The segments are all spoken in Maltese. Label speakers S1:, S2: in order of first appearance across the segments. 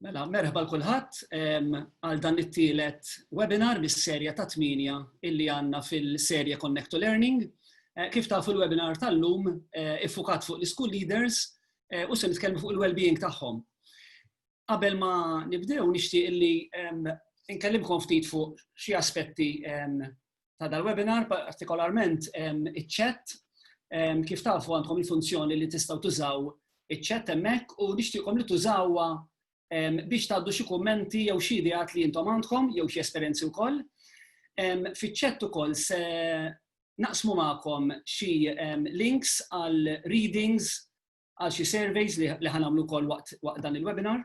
S1: Mela, merħba l-kulħadd għal dan it-tielet webinar mis-serja ta' tminja illi għandna fil-serja Connect to Learning. Eh, kif tafu l-webinar tal-lum eh, iffukat fuq l-school leaders eh, u se nitkellmu fuq il-well-being tagħhom. Qabel ma nibdew nixtieq illi nkellimkom ftit fuq xi aspetti ta' dal-webinar, partikolarment iċ-chat. Kif tafu għandkom il-funzjoni li tistgħu tużaw iċ-chat hemmhekk u nixtieqkom li tużawha biex tgħaddu xi kummenti jew xi ideat li intom għandkom jew xi esperjenzi wkoll. Fiċ-chat ukoll se naqsmu magħkom xi links għal readings għal xi surveys li ħan għamlu wkoll waqt dan il-webinar.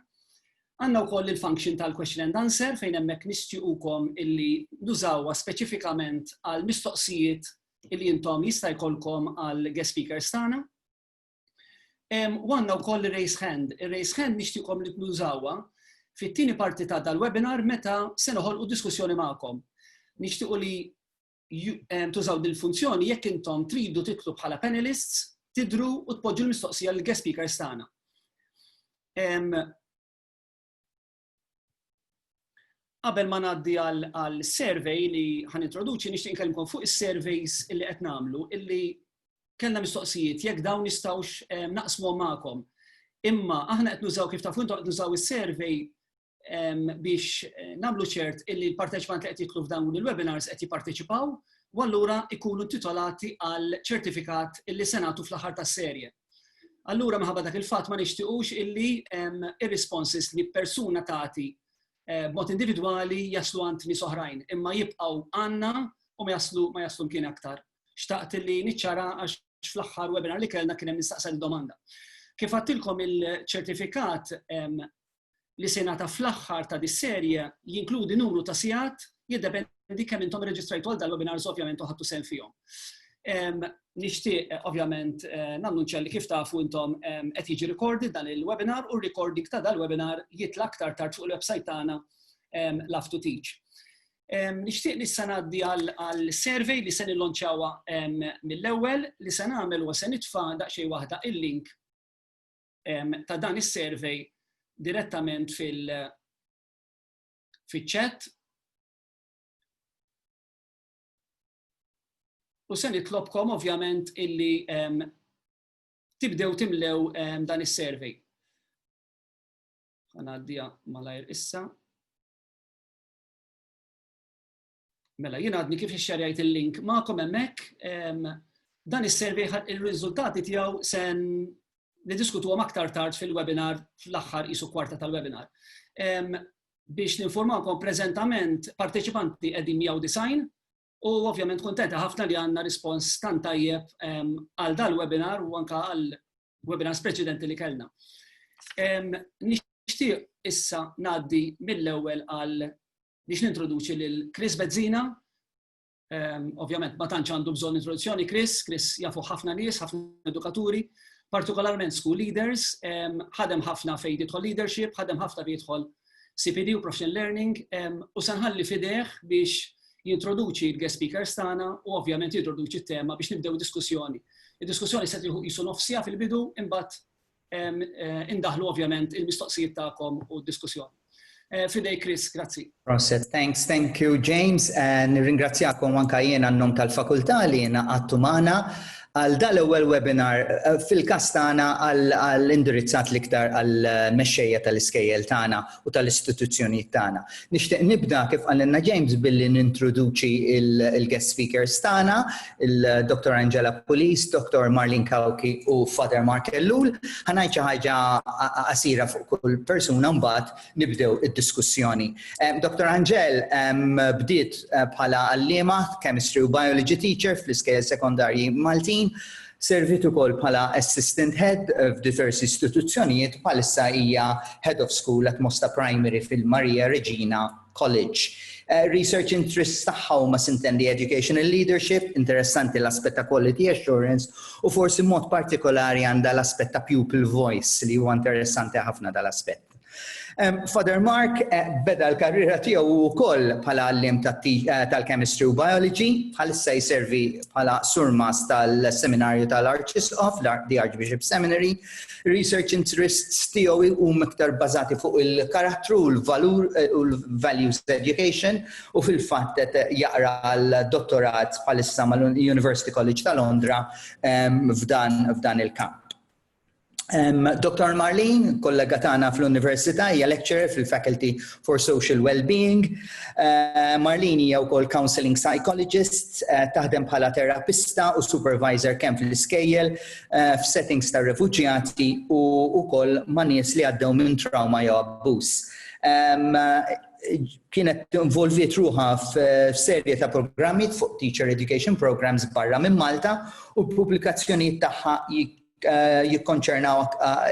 S1: Għandna wkoll il-function tal-question and answer fejn hemmhekk nistjuqukom illi nużawha speċifikament għal mistoqsijiet illi intom jista' jkollkom għal guest speakers tagħna. Għandna wkoll ir-raise hand. Ir-raise hand nixtieqkom li tnużawha fit-tieni parti ta' dal-webinar meta se noħolqu diskussjoni magħkom. Nixtiequ li tużaw dil-funzjoni jekk intom tridu titlu bħala panelists, tidru u tpoġġu l-mistoqsija l-guest speakers tagħna. Qabel ma ngħaddi għal survey li ħan introduċi nixtieq nkellmkom fuq is-surveys li qed nagħmlu illi kellna mistoqsijiet jekk dawn nistgħux naqsmu magħkom. Imma aħna qed nużaw kif tafu intom qed nużaw is-survey biex eh, namlu ċert illi l-parteċipant li qed jitlu f'dawn il-webinars qed jipparteċipaw u allura ikunu titolati għal ċertifikat illi senatu fl-aħħar tas-serje. Allura minħabba dak il-fatt ma nixtiqux illi ir-responses li persuna tagħti eh, b'mod individwali jaslu għand nies oħrajn, imma jibqgħu għandna u ma jaslu ma jaslu mkien aktar. Xtaqt illi niċċara għax fl-aħħar webinar li kellna kien hemm nistaqsa domanda Kif għattilkom il-ċertifikat li se jingħata fl-aħħar ta' dis-serje jinkludi numru ta' sigħat, jiddependi kemm intom irreġistrajtu għal dal-webinars ovvjament u ħadtu sehem fihom. Nixtieq eh, ovvjament eh, nannunċja li kif tafu intom qed jiġi recorded dan il-webinar u r-recording ta' dal-webinar jitla' aktar tard fuq il-website tagħna Love to Teach. Nixtieq li sanaddi għal survey li se nillonċawha mill-ewwel li se nagħmel u se nitfa' daqsxejn waħda il-link ta' dan is-survey direttament fil-chat. U se nitlobkom ovvjament illi tibdew timlew dan is-survey. Għanaddija malajr issa. Mela, jien għadni kif xxerjajt il-link ma'kom hemmhekk, dan is-survey ir-riżultati tiegħu sen niddiskutuhom aktar tard fil-webinar fl-aħħar isu kwarta tal-webinar. Biex ninformakom preżentament parteċipanti qegħdin 190 u ovvjament kontenta ħafna li għandna rispons tant tajjeb għal dal-webinar u anka għal webinars preċedenti li kellna. Nixtieq issa ngħaddi mill-ewwel għal biex nintroduċi lil Chris Bezzina. Ehm, ovvjament ma tantx għandu bżonn introduzzjoni Chris, Chris jafu ħafna nies, ħafna edukaturi, partikolarment school leaders, ehm, ħadem ħafna fejn jidħol leadership, ħadem ħafna fejn jidħol CPD u professional learning ehm, u sanħalli fideħ biex jintroduċi l-guest speakers tagħna u ovvjament jintroduċi t-tema biex nibdew diskussjoni. Id-diskussjoni se jisu nofsija fil-bidu imbagħad indaħħlu ovvjament il-mistoqsijiet tagħkom u d-diskussjoni. Fidejk Chris, grazzi. Proset, thanks, thank you James. Nirringrazzjakom anka jien għan-nom tal-fakultà li jiena għattu magħna għal dal-ewwel webinar fil-każ tagħna għall-indirizzat l-iktar għall-mexxejja tal-iskejjel tagħna. u tal-istituzzjonijiet tagħna. Nixtieq nibda kif qalilna James billi nintroduċi il-guest speakers tagħna, il-Dr. Angela Pulis, Dr. Marlin Kawki u Father Mark Ellul. Ħanajt xi ħaġa qasira fuq kull persuna mbagħad nibdew id-diskussjoni. Dr. Angel bdiet eh, bħala għalliema chemistry u biology teacher fl-iskejjel sekondarji Maltin Serviet ukoll bħala Assistant Head f'diversi istituzzjonijiet bħalissa hija Head of School at Mosta Primary fil-Maria Reġina College. Research interests tagħha huma sintendi educational leadership, interessanti l-aspett ta' quality assurance u forsi mod partikolari għandha l-aspett ta' pupil voice li huwa interessanti ħafna dal-aspett. Father Mark eh, beda l-karriera tiegħu wkoll bħala għallim eh, tal-chemistry u biology, bħalissa jservi bħala surmas tal-seminarju tal-Arċisqof, the Archbishop Seminary. Research interests tiegħu huma iktar bażati fuq il-karattru u l-valur eh, u l-values education u fil-fatt jaqra l-dottorat bħalissa mal-University College ta' Londra f'dan il-kamp. Dr. Marlene, kollega tagħna fl-Università, hija lecturer fil-Faculty for Social Wellbeing. Uh, Marlene hija wkoll counseling psychologist, uh, taħdem bħala terapista u supervisor kemm fl-iskejjel uh, f'settings ta' refuġjati u wkoll ma' nies li għaddew minn trauma jew abbuż. Um, kienet involviet ruħa f'serje ta' programmi fuq teacher education programs barra minn Malta u l-pubblikazzjonijiet tagħha jikkonċernaw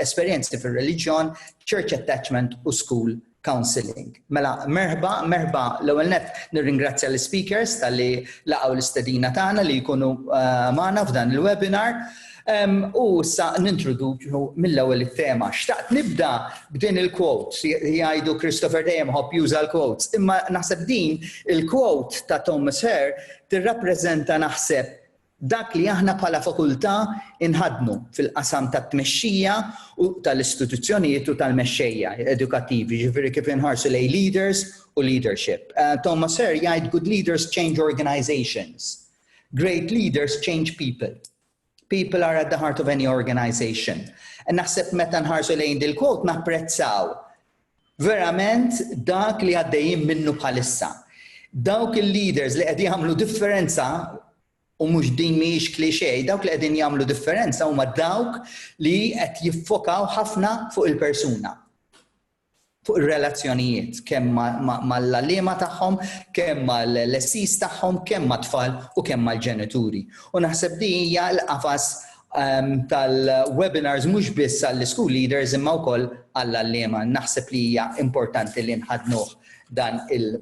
S1: esperjenzi fir-reliġjon, church attachment u school counseling. Mela, merħba, merħba l-ewwel net nirringrazzja l-speakers tal-li laqgħu l-istedina tagħna li jkunu eh, magħna f'dan il-webinar. U sa nintroduċu mill-ewwel it-tema. Xtaqt nibda b'din il-quote, jgħidu Christopher dejjem ħobb juża l-quotes, imma naħseb din il-quote ta' Thomas Hare tirrappreżenta naħseb Dak li aħna bħala Fakultà nħaddnu fil-qasam tat-tmexxija u tal-istituzzjonijiet u tal-mexxejja edukattivi, jiġifieri kif inħarsu lejn leaders u leadership. Thomas Hare jgħid good leaders change organisations, great leaders change people. People are at the heart of any organisation. Naħseb meta nħarsu lejn dil-quote napprezzaw Verament dak li għaddejjin minnu bħalissa. Dawk il-leaders li qed jagħmlu differenza u mhux din mhijiex klixe, dawk li qegħdin jagħmlu differenza huma dawk li qed jiffokaw ħafna fuq il-persuna fuq ir-relazzjonijiet kemm mal-għalliema tagħhom, kemm mal-lessis tagħhom, kemm mat-tfal u kemm mal-ġenituri. U naħseb li hija l-qafas ehm, tal-webinars mhux biss għall-school leaders imma wkoll għall-allima. Naħseb li hija importanti li nħadnuh dan il-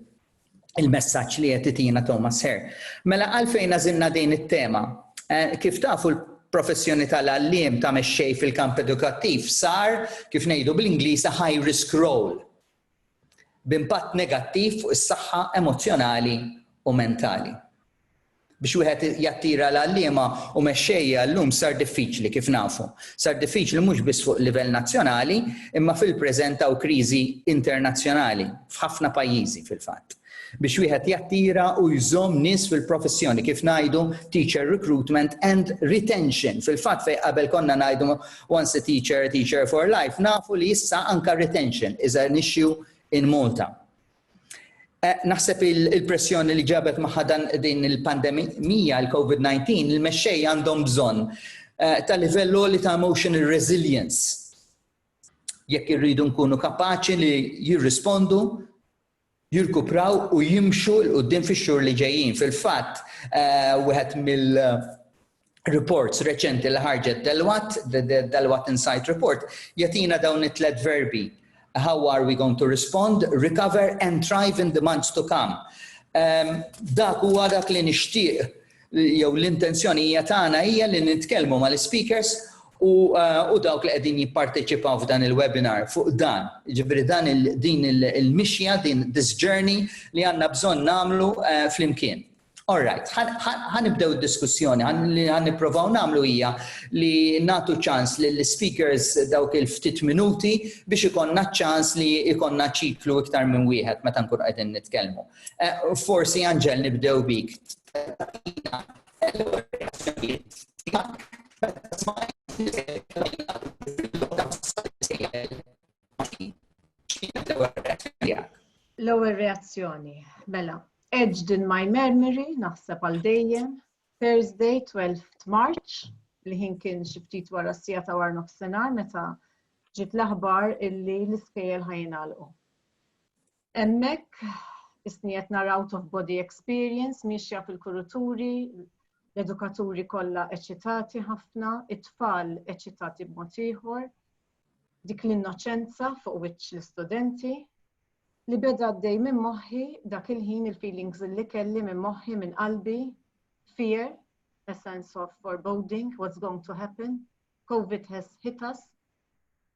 S1: il-messaġġ li qed itina Thomas Herr. Mela għalfejn għażilna din it-tema. Eh, kif tafu professjoni tal-għallim ta' mexxej fil-kamp edukattiv sar, kif ngħidu bl-Ingliż, high risk role. b'impatt negattiv fuq is-saħħa emozzjonali u mentali. Biex wieħed jattira l-għalliema u mexxejja llum sar diffiċli kif nafu. Sar diffiċli mhux biss fuq livell nazzjonali, imma fil-preżent hawn kriżi internazzjonali f'ħafna pajjiżi fil-fatt. Biex wieħed jattira u jżomm nies fil-professjoni, kif ngħidu teacher recruitment and retention. Fil-fatt fejn qabel konna ngħidu once a teacher, a teacher for life, nafu li issa anka retention is an issue in Malta. Eh, naħseb il-pressjoni li ġabet maħħa dan din il-pandemija, il-COVID-19, il-mexxej għandhom bżonn eh, ta' livell li ta' emotional resilience. Jekk irridu nkunu kapaċi li jirrispondu jirkupraw u jimxu 'l quddiem fix-xhur li ġejjin. Fil-fatt, wieħed mill-reports reċenti li ħarġet Deloitte, the Deloitte Insight Report, jagħtina dawn it-tliet verbi, how are we going to respond, recover and thrive in the months to come. Dak huwa dak li nixtieq jew l-intenzjonija tagħna hija li nitkellmu mal-speakers u, uh, u dawk li qegħdin jipparteċipaw f'dan il-webinar fuq dan. Ġifieri dan il, din il-mixja, il din this journey li għandna bżonn nagħmlu uh, flimkien. All right, ħanibdew diskussjoni, ħan niprofaw namlu hija li natu ċans li l-speakers dawk il-ftit minuti biex ikonna ċans li ikonna ċiklu iktar minn wieħed meta nkun qegħdin nitkellmu. Eh, forsi Anġel nibdew bik. L-ewwel reazzjoni, mela, edged in my memory, naħseb għal dejjem, Thursday 12 March, li ħin kien xi ftit wara s-sija ta' war nofsinhar meta ġiet l-aħbar illi l-iskejjel ħajinalqu. Hemmhekk isni qed naraw of body experience miexja fil-kuruturi, l-edukaturi kollha eċitati ħafna, it-tfal eċitati b'mod ieħor, dik l-innoċenza fuq wiċċ l-istudenti, li beda għaddej minn moħħi dak il-ħin il-feelings li kelli minn moħħi minn qalbi, fear, a sense of foreboding, what's going to happen, COVID has hit us,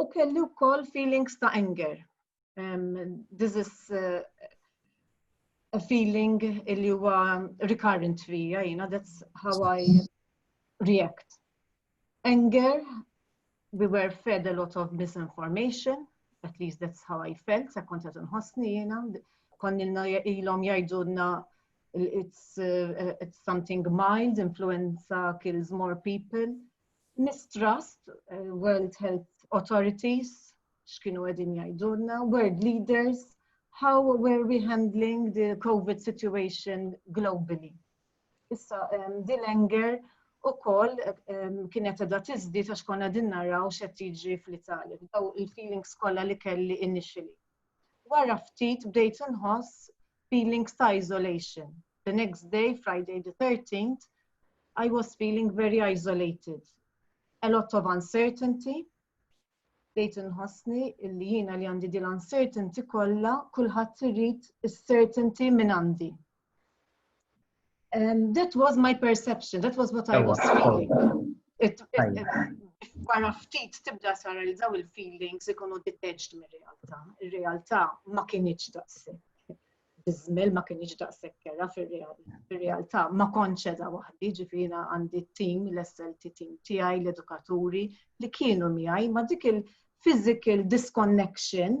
S1: U kelli wkoll feelings ta' anger. Um, this is uh, a feeling li huwa recurrent fija, you know, that's how I react. Anger, we were fed a lot of misinformation, at least that's how I felt, sa kont għet nħosni jena, konnilna ilom jajdunna it's, uh, it's something mild, influenza kills more people, mistrust, eh, World Health Authorities, x'kienu qegħdin jgħidulna, world leaders, how were we handling the COVID situation globally. Issa, um, Dillinger u koll um, kienet edha tizdi ta' xkonna din naraw xed jiġri fl-Italja, daw il-feelings kolla li kelli initially. Wara ftit bdejt inħoss feelings ta' isolation. The next day, Friday the 13th, I was feeling very isolated. A lot of uncertainty. Bdejt inħossni illi jiena li għandi dil uncertainty kollha kulħadd irid is-certainty minn għandi. Um, that was my perception, that was what I was feeling. Wara ftit tibda sara li daw il-feelings ikunu detached mir-realtà. Ir-realtà ma kienieċ daqsek. Bizmel ma kienieċ daqsek kera fir-realtà. Ma konċeda waħdi ġifina għandi t-tim, l-SLT tim tiegħi, l-edukaturi li kienu miegħi ma dik il-physical disconnection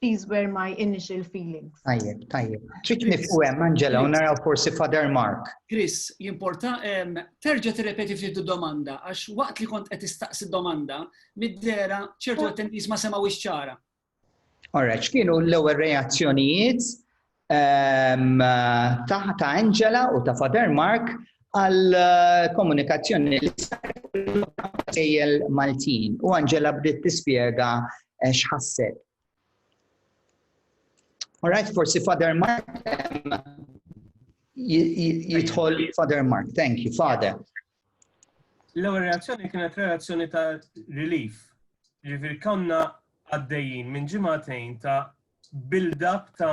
S1: These were my initial feelings. Tajjeb, tajjeb. Trid nifqu hemm Angela u naraw forsi Father Mark. Chris, jimporta terġa' tirrepeti ftit domanda għax waqt li kont qed istaqsi domanda mid-dera ċertu attendees ma semgħu ċara. Alright, x'kienu l-ewwel reazzjonijiet ta' Angela u ta' Father Mark għal komunikazzjoni li sejjel Maltin u Angela bdiet tispjega eh, x'ħasset. Alright, forsi Father Mark jidħol Father Mark, thank you, Father. L-ewwel reazzjoni kienet reazzjoni ta' relief. Ġifieri konna għaddejjin minn ġimagħtejn ta' build-up ta'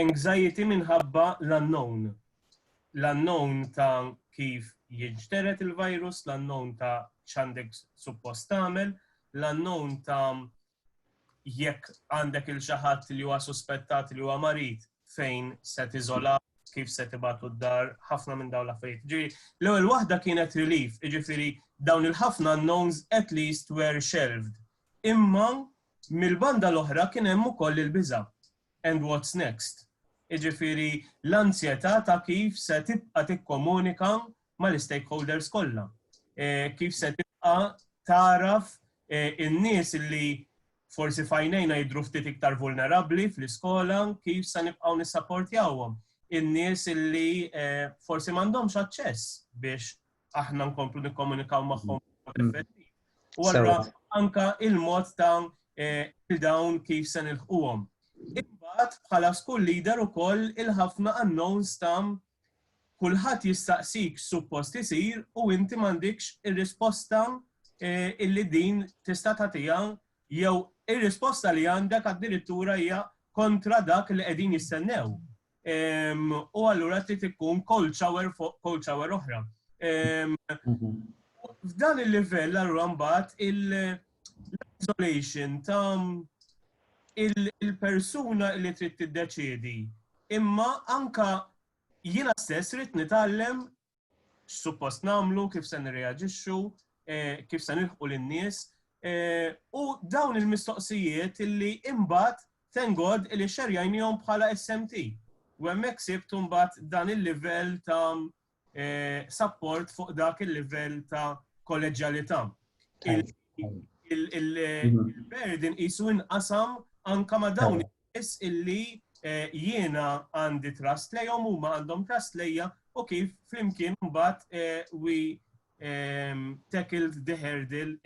S1: anxiety minħabba l-unknown. L-unknown ta' kif jinġteret il-virus, l-unknown ta' x'għandek suppost tagħmel, l-unknown ta' jekk għandek il xi ħadd li huwa suspettat li huwa marid fejn se tiżola kif se tibatu d-dar, ħafna minn dawn l-affarijiet. Ġifieri, l-ewwel waħda kienet relief, ġifieri dawn il-ħafna knowns at least were shelved. Imma mill-banda l-oħra kien hemm ukoll il-biża. And what's next? Iġifieri l-anzjetà ta' kif se tibqa' tikkomunika mal-istakeholders kollha. Kif se tibqa' tagħraf in-nies li forsi f'għajnejna jidhru ftit iktar vulnerabbli fl-iskola, kif se nibqgħu nissaportjawhom? In-nies li forsi m'għandhomx aċċess biex aħna nkomplu nikkomunikaw magħhom U allura anka il-mod ta' il-dawn kif se nilħquhom. Imbagħad bħala school leader ukoll il-ħafna unknowns ta' Kulħadd jistaqsik x'suppost isir u inti m'għandikx ir-risposta illi din tista' tagħtiha jew ir-risposta li għandek addirittura hija kontra dak li qegħdin jistennew. U allura trid ikun cold shower fuq cold shower oħra. F'dan il-livell allura mbagħad l-isolation ta' il-persuna li trid tiddeċiedi. Imma anka jiena stess rrid nitgħallem x'suppost nagħmlu, kif se nirreaġixxu, eh, kif se nilħqu lin-nies. Eh, u dawn il-mistoqsijiet li imbagħad tengod li xerjajnihom bħala SMT. U hemmhekk sibt imbagħad dan il-livell ta' sapport fuq dak il-livell ta' kolleġjalità. Il-burden isu inqasam anka ma' dawn is illi eh, jiena għandi trust lejhom huma għandhom trust lejja u kif flimkien mbagħad eh, we ehm, tackled the hurdle.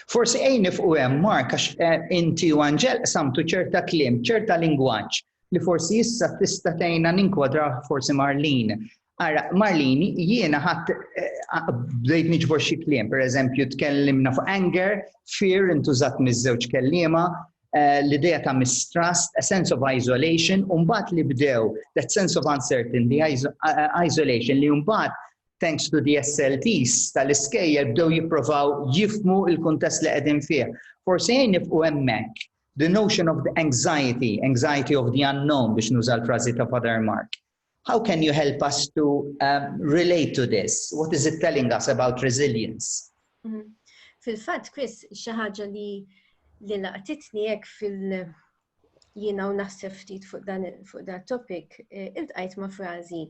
S1: Forsi ejn nifqu hemm Mark għax eh, inti u Anġel samtu ċerta kliem, ċerta lingwaġġ li forsi issa tista' tgħinna ninkwadra forsi Marlin. Ara, Marlin, jiena ħadd eh, bdejt niġbor xi kliem, pereżempju tkellimna fuq anger, fear intużat miż-żewġ kelliema, eh, l-idea ta' mistrust, a sense of isolation, u mbagħad li bdew that sense of uncertainty, eh, isolation li mbagħad thanks to the SLTs tal-iskejjer bdew jipprovaw jifmu il-kuntest li qegħdin fih. Forsi jien nibqu hemmhekk The notion of the anxiety, anxiety of the unknown biex nuża l-frażi ta' Father Mark. How can you help us to um, relate to this? What is it telling us about resilience? Mm -hmm. Fil-fatt, Chris, xi ħaġa li li laqtitni hekk fil- jiena u naħseb ftit fuq dan fuq dan topic, eh, iltqajt ma' frażi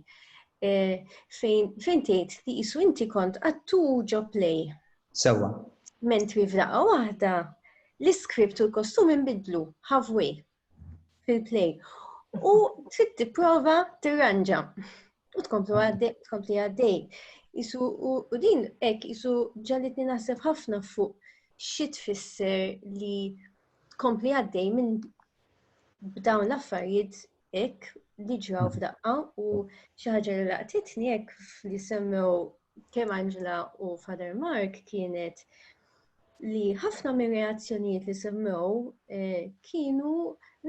S1: eh, fejn tgħid li qisu inti kont attur ġo play. Sewwa. Mentri f'daqqa waħda, l-iskript u l-kostumi nbidlu, halfway, fil-play. U trid tipprova tirranġa. U tkomplu għaddej, tkompli għaddej. Isu, u din, ek, isu ġallitni naħseb ħafna fuq xi tfisser li tkompli għaddej minn b'dawn l-affarijiet hekk li ġraw mm. f'daqqa u xi ħaġa li laqtitni hekk li semmew kemm Angela u Father Mark kienet li ħafna mir reazzjonijiet li semmew eh, kienu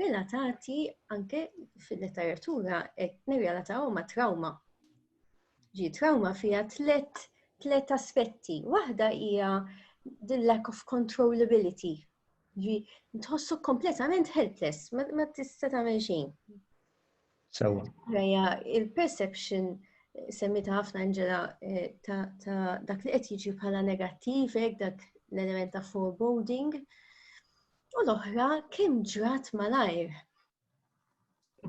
S1: relatati anke fil-letteratura qed nirrelataw ma' trauma. Ġi trauma fija tlet tlet aspetti. Waħda hija the lack of controllability Ġi, tħossok kompletament helpless, ma tista' tagħmel xejn. Sewa. Rajja, il-perception eh, semmita ħafna Angela eh, ta' dak li qed jiġi bħala negattiv, eh, dak l-element ta' foreboding. U l-oħra kemm ġrat malajr.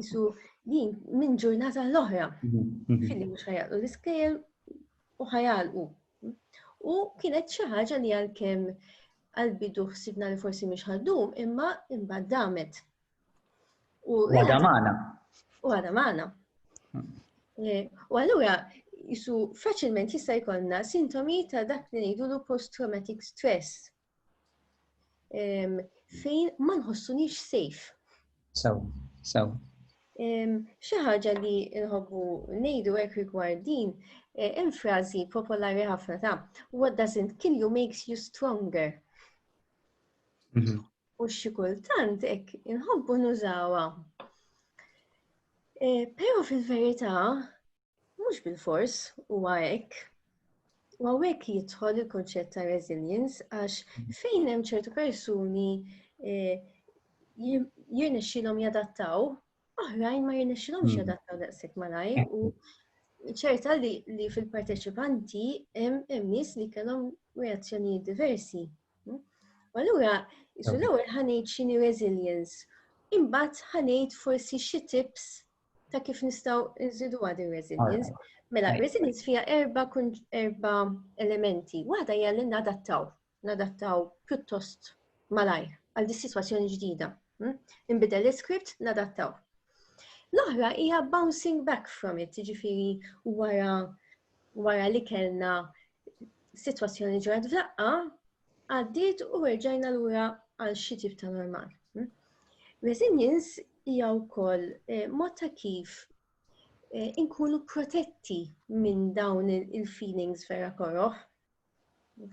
S1: Isu din minn ġurnata l-oħra. Mhm, mhm. Fili mhux ħajalqu l-iskejjel u ħajalqu. U kienet xi ħaġa li għalkemm għal-bidu ħsibna li forsi mhix ħaddum, imma imbagħad damet. U għada magħna. U għada magħna. Hmm. Eh, u allura jisu faċilment jista' jkollna sintomi ta' dak li ngħidulu post-traumatic stress. fejn ma nħossunix safe. Sew, sew. Xi ħaġa li nħobbu ngħidu hekk rigward din, e, hemm frażi popolari ħafna ta' what doesn't kill you makes you stronger. Mhm. U xi kultant hekk inħobbu nużawha. E, però fil-verità, Mhux bilfors huwa hekk. U għawek jidħol il-konċett ta' resilience għax fejn hemm ċertu persuni eh, jirnexxilhom jadattaw, oħrajn ma jirnexxilhomx hmm. jadattaw daqshekk malajr u ċerta li, li fil-parteċipanti hemm nies li kellhom reazzjonijiet diversi. Hmm? U allura, isu l-ewwel ħanejt xini resilience, imbagħad ħanejt forsi xi tips ta' kif nistaw nżidu għad il-resilience. Mela, resilience fija erba, erba elementi. Waħda hija li nadattaw, nadattaw pjuttost malajr għal dis situazzjoni ġdida. Hm? Inbidel l-script, nadattaw. L-oħra hija bouncing back from it, ġifiri wara wara li kellna situazzjoni ġrat f'daqqa, għaddiet u erġajna lura għal xi tip ta' normal. Hmm? Resilience hija wkoll eh, mod ta' kif eh, inkunu protetti minn dawn il-feelings vera koroħ.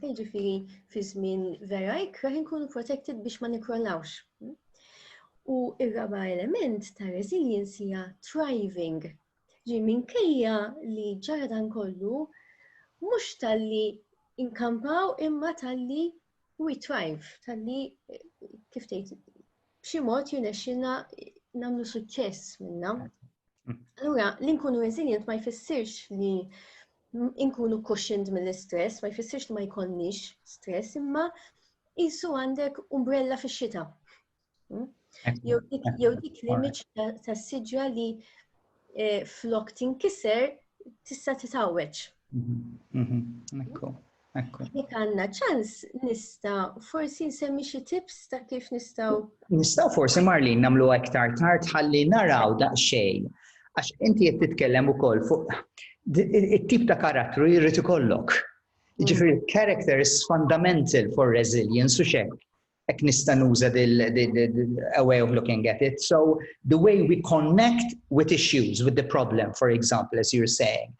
S1: Ġifiri, fi żmien vera ikra inkunu protected biex ma nikrollawx. Hmm? U ir-raba element ta' resilience hija thriving, Ġi minkejja li ġara dan kollu, mhux talli inkampaw imma talli we thrive, talli kif tgħid b'xi mod jirnexxina nagħmlu suċċess minna. Allura, li nkunu resilient ma jfissirx li inkunu cushioned mill-istress, ma jfissirx li ma jkollniex stress, imma jisu għandek umbrella fix-xita. Hmm? Jew dik l-image ta' siġra li eh, flok tinkiser tista' titgħawweġ. Mhm, mhm, ekku, ekku. Jek għanna ċans nista' forsi nsemmi xi tips ta' kif nistgħu. Nistgħu forsi Marlin nagħmlu aktar tard ħalli naraw daqsxejn. Għax inti qed titkellem ukoll fuq it-tip ta' karattru jrid ikollok. Mm. Ġifieri character is fundamental for resilience u xekk Ek nista nuża dil a way of looking at it. So the way we connect with issues, with the problem, for example, as you're saying.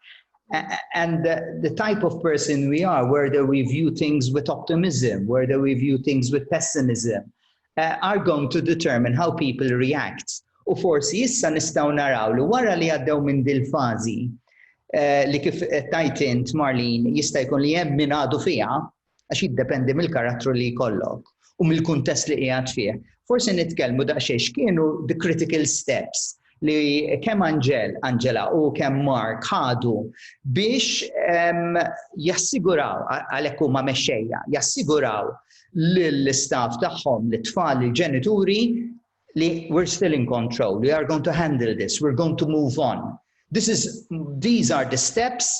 S1: And the, the type of person we are, whether we view things with optimism, whether we view things with pessimism, uh, are going to determine how people react. U forsi issa nistaw naraw li wara li għaddew minn dil-fazi, uh, li kif tajtint Marlin jista' jkun li hemm min għadu fiha, għax jiddependi mill-karattru li jkollok u mill-kuntest li qiegħed fih. Forsi nitkellmu daqsxejn x'kienu the critical steps li kemm Anġel, Anġela u kemm Mark ħadu biex ehm, jassiguraw għalhekk huma mexxejja, jassiguraw l-istaff tagħhom, l-tfal, il-ġenituri li we're still in control, we are going to handle this, we're going to move on. This is, these are the steps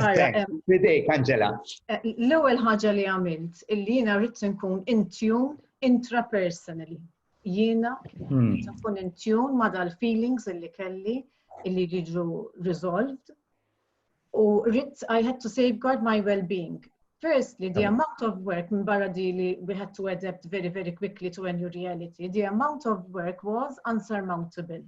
S1: Fidejk, Angela. Eh, l-ewwel ħaġa li għamilt illi jiena rrid nkun intune intrapersonally. Jiena hmm. nkun intune ma' dal-feelings illi kelli illi jiġu resolved u rrid I had to safeguard my well-being. Firstly, the amount of work minn barra di li we had to adapt very, very quickly to a new reality, the amount of work was unsurmountable.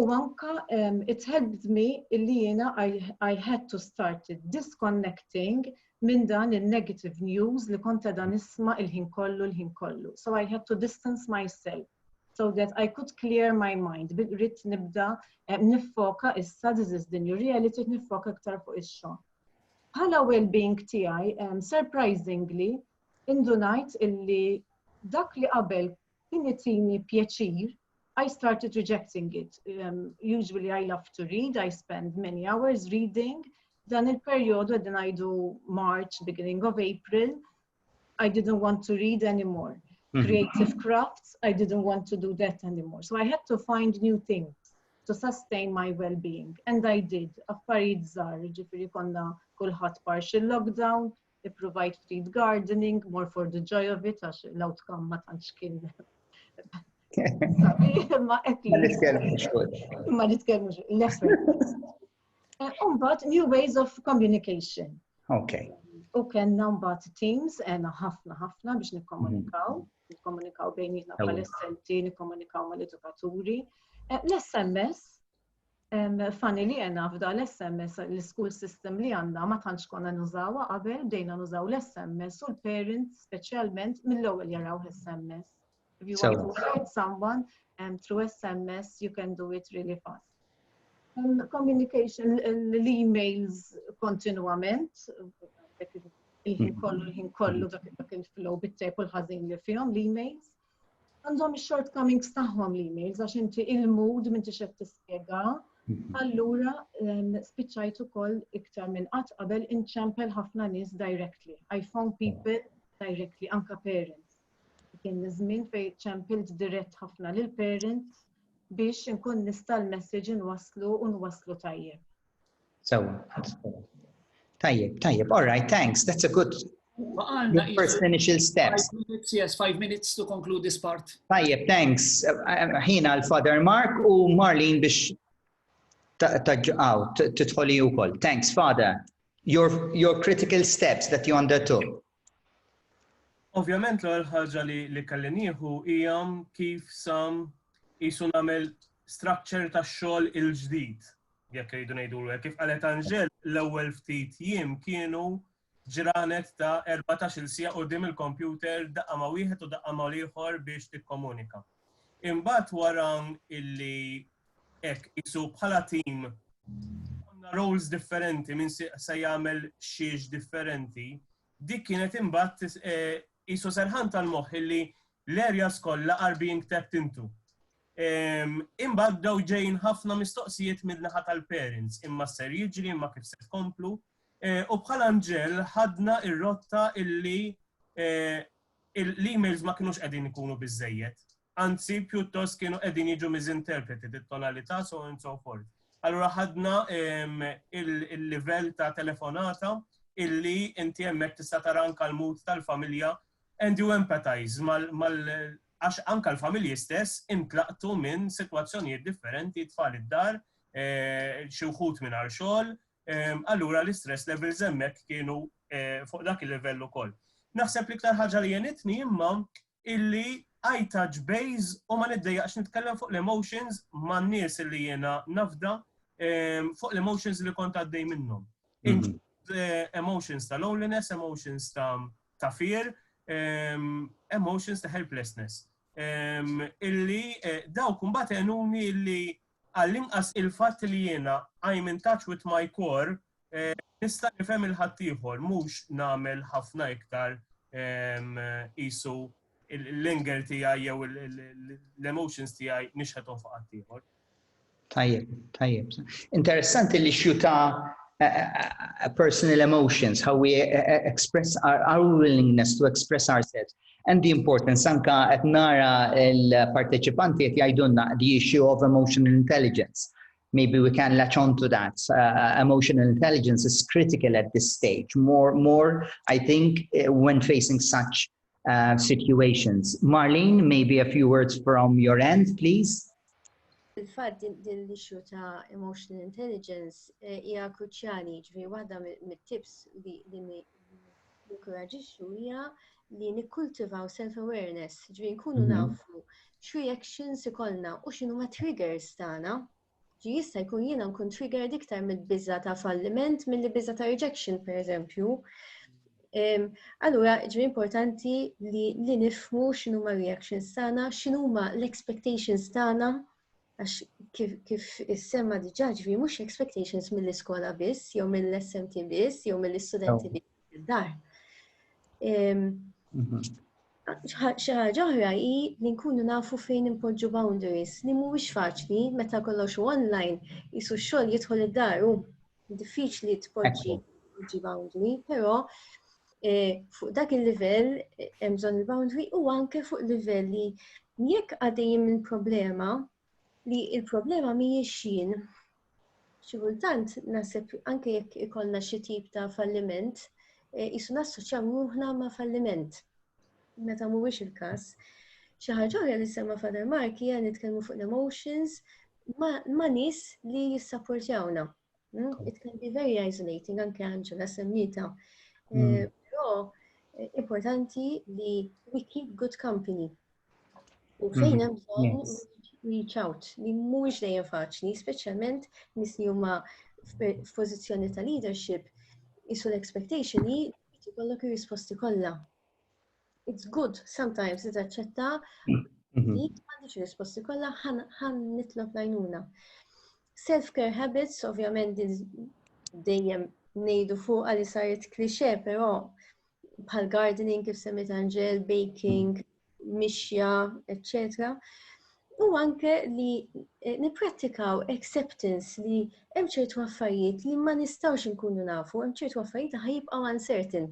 S1: U anka um, it helped me illi jiena I, I had to start disconnecting minn dan il-negative news li konta dan isma il-ħin kollu l-ħin kollu. So I had to distance myself so that I could clear my mind. Rrit nibda eh, nifoka issa this is the new reality nifoka ktar fuq ix-xogħol. Bħala well-being tiegħi, um, surprisingly, indunajt illi dak li qabel Kien itini pjaċir I started rejecting it. Um, usually I love to read, I spend many hours reading. Dan il-periodu għedin għajdu March, beginning of April, I didn't want to read anymore. Mm -hmm. Creative crafts, I didn't want to do that anymore. So I had to find new things to sustain my well-being. And I did. Affarijiet żgħar, ġifiri konna kulħadd partial lockdown, ippruvajt ftit gardening, more for the joy of it, għax l-outcome ma tantx kien. Ma nitkellmux fuq. Ma nitkellmux, l-effort. Umbat, new ways of communication. Ok. U kellna mbagħad teams għena ħafna ħafna biex nikkomunikaw, mhm. nikkomunikaw bejnietna bħal-essenti, nikkomunikaw mal-edukaturi. Eh, L-SMS, Fani li għena f'da l-SMS, l-school system li għanna ma tantx konna nużawa qabel, bdejna nużaw l-SMS u l-parents specialment mill-ewwel jaraw l-SMS. If you want to write someone um, through SMS, you can do it really fast. Um, communication, l-emails kontinuament, il-ħin kollu, il-ħin kollu dak il-flow bit-tep u l-ħazin li fihom, l-emails. Għandhom il-shortcomings tagħhom l-emails għax inti il-mood minn tixed tispjega. Mhm. Allura ehm, spiċċajt ukoll iktar minn qatt qabel inċempel ħafna nies directly. I found people directly, anka parents. Kien żmien fejn ċempilt dirett ħafna lil parents biex inkun nista' l-message inwaslu u nwaslu tajjeb. Sewa. Tajjeb, tajjeb, all right, thanks, that's a good Your first initial steps. Five minutes, yes, five minutes to conclude this part. Tajjeb, thanks. Ħina l-Father Mark u Marlene biex taġġaw, titħoli u koll. Thanks, Father. Your, your critical steps that you undertook. Ovvjament l ħaġa li li kallinieħu hija kif sam jisu nagħmel structure ta' xogħol il-ġdid jekk irridu ngħidulu hekk, kif qalet Anġel, l-ewwel ftit jiem kienu ġranet ta' 14-il siegħa quddiem il-kompjuter daqqa ma' wieħed u daqqa ma' l-ieħor biex tikkomunika. Imbagħad wara illi hekk isu bħala tim għamna roles differenti minn se jagħmel xiex differenti, dik kienet imbagħad isu serħan tal-moħħ illi l-areas kollha are being tapped into. Imbagħad bdew ġejjin ħafna mistoqsijiet min-naħa tal-parents, imma x'ser jiġri, imma kif se tkomplu. U bħala nġel ħadna r-rotta illi l-emails ma kinux qegħdin ikunu biżejjed. Anzi, pjuttost kienu qegħdin jiġu misinterpreted it-tonalità so on so forth. Allura ħadna il-livell ta' telefonata illi inti hemmhekk tista' tara anke l-mood tal-familja and you empathize għax anke l-familji stess intlaqtu minn sitwazzjonijiet differenti, tfal id-dar, xi wħud mingħajr xogħol, allura l-istress levels hemmhekk kienu fuq dak il-livell ukoll. Naħseb l-iktar ħaġa li jenitni imma illi I touch base u ma niddejjaqx nitkellem fuq l-emotions man nies li jiena nafda ehm, fuq l-emotions li kont għaddej minnhom. Mhm. Eh, emotions ta' loneliness, emotions ta' ta' fear, emotions ta' helplessness. Illi dawk mbagħad għenuni li għall-inqas il-fatt li jiena I'm in touch with my core nista' nifhem il-ħaddieħor mhux nagħmel ħafna iktar qisu l-anger tiegħi jew l-emotions tiegħi nixħethom fuq ħaddieħor. Tajjeb, tajjeb. Interessanti li xjuta eh, eh, eh, personal emotions, how we express our, our willingness to express ourselves and the importance anka qed nara l-parteċipanti qed jgħidulna the issue of emotional intelligence. Maybe we can latch on to that. Uh, uh emotional intelligence is critical at this stage. More, more, I think, uh, when facing such uh, situations. Marlene, maybe a few words from your end, please. Il-fat din l-issue ta' emotional intelligence eh, hija kruċjali, ġifieri waħda mit-tips li nikkoraġixxu hija li nikkultivaw self-awareness, ġifieri nkunu mhm. nafu xi reactions ikollna u x'inhu ma triggers tagħna. jista' jkun jiena nkun triggered iktar mill-biża ta' falliment milli biża ta' rejection pereżempju. Allura ġri importanti li, li nifmu x'inhu ma' reactions tagħna, x'inhu ma' l-expectations tagħna, għax kif, kif is-semma diġà ġri mhux expectations mill-iskola biss, jew mill-SMT biss, jew mill-istudenti biss. id-dar. Mhm. Xi ħaġa oħra hi li nkunu nafu fejn impoġġu boundaries li mhuwiex faċli meta kollox u online jisu x-xogħol jidħol id-dar u diffiċli tpoġġi boundary, però eh, fuq dak il-livell eh, hemm bżonn il-boundary u anke fuq livell li jekk għaddejjin minn problema li il-problema mhijiex jien. Xi kultant naħseb anke jekk ikollna xi tip ta' falliment, eh, isu nassoċjaw ruħna ma' falliment. Meta mhuwiex il-każ. Xi ħaġa oħra li semma Father Mark hija nitkellmu fuq l-emotions ma' nies li jissapportjawna. It can be very isolating, anke Angela semmita. Eh, hmm. Però eh, importanti li we keep good company. U hmm. fejn hemm bżonn reach out li mhuwiex dejjem faċli, speċjalment nis li huma f'pożizzjoni ta' leadership, isu l-expectation li jkollok ir-risposti kollha. It's good sometimes li taċċetta mhm. li m'għandix risposti kollha ħan nitlob lajnuna. Self-care habits, ovvjament dejjem nejdu fuq għalli saret klixe, pero bħal gardening kif semmit Angel, baking, mixja, etc. U anke li eh, niprattikaw acceptance li hemm ċertu affarijiet li ma nistawx nkunu nafu, hemm ċertu affarijiet li ħajibqgħu uncertain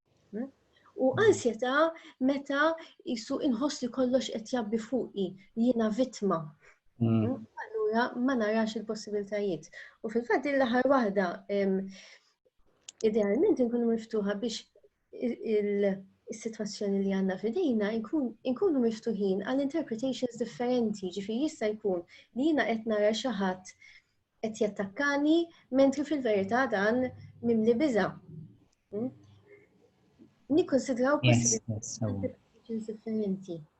S1: U ansjetà meta jisu inħoss li kollox qed jabbi fuqi, jiena vittma. Mm. Allura ma narax il-possibiltajiet. U fil-fatt din l-aħħar waħda idealment inkunu miftuħa biex il-sitwazzjoni li għandna fidejna inkunu miftuħin għal interpretations differenti, ġifi jista' jkun li jiena qed nara xi ħadd qed jattakkani mentri fil-verità dan mimli biża. Hmm? Nikkonsidraw possibilità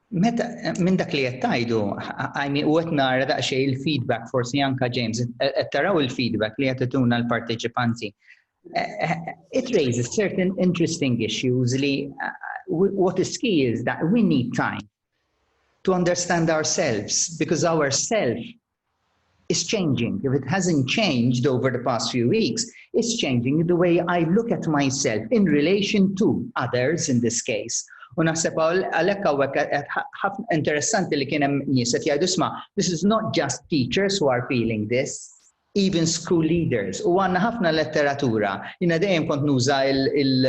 S1: Meta, minn dak li qed tajdu, għajmi u qed nara daqsxejn il-feedback, forsi anka James, qed taraw il-feedback li qed ituna l-parteċipanti. Eh, eh, it raises certain interesting issues li eh, what is key is that we need time to understand ourselves because ourself It's changing. If it hasn't changed over the past few weeks, it's changing the way I look at myself in relation to others in this case. U naħseb għalhekk hawnhekk eh, eh, interessanti li kien hemm nies qed jgħidu sma' this is not just teachers who are feeling this, even school leaders. U għandna ħafna letteratura. Jiena dejjem kont nuża il-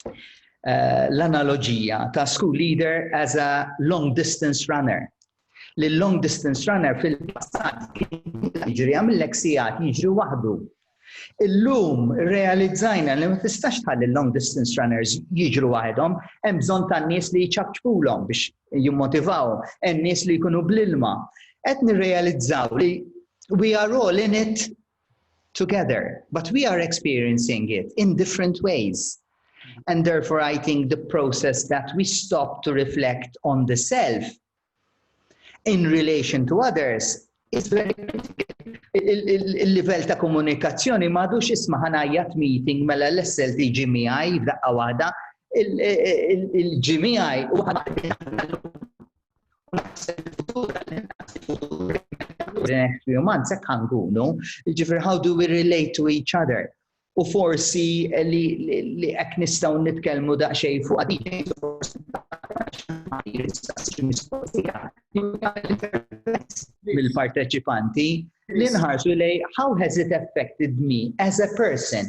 S1: eh, l-analoġija ta' school leader as a long distance runner. li l-long distance runner fil-passat kien jiġriha mill-hekk sigħat jiġri waħdu. Illum realizzajna li ma tistax tħalli l-long distance runners jiġru waħedhom, hemm bżonn tan-nies li jċabċbulhom biex jimmotivawhom, hemm nies li jkunu bl-ilma. Qed nirrealizzaw li we are all in it together but we are experiencing it in different ways and therefore I think the process that we stop to reflect on the self in relation to others is very il-livell ta' komunikazzjoni madux isma ħanajjat meeting mela l-essel di ġimijaj f'daqqa waħda il-ġimijaj u U naħseb il-futur għall-inqas il-futur the next few months, hekk ħankunu, ġifir how do we relate to each other? U forsi li hekk nistgħu nitkellmu daqsxejn fuq għadin, forsi mill-parteċipanti li nħarsu lej how has it affected me as a person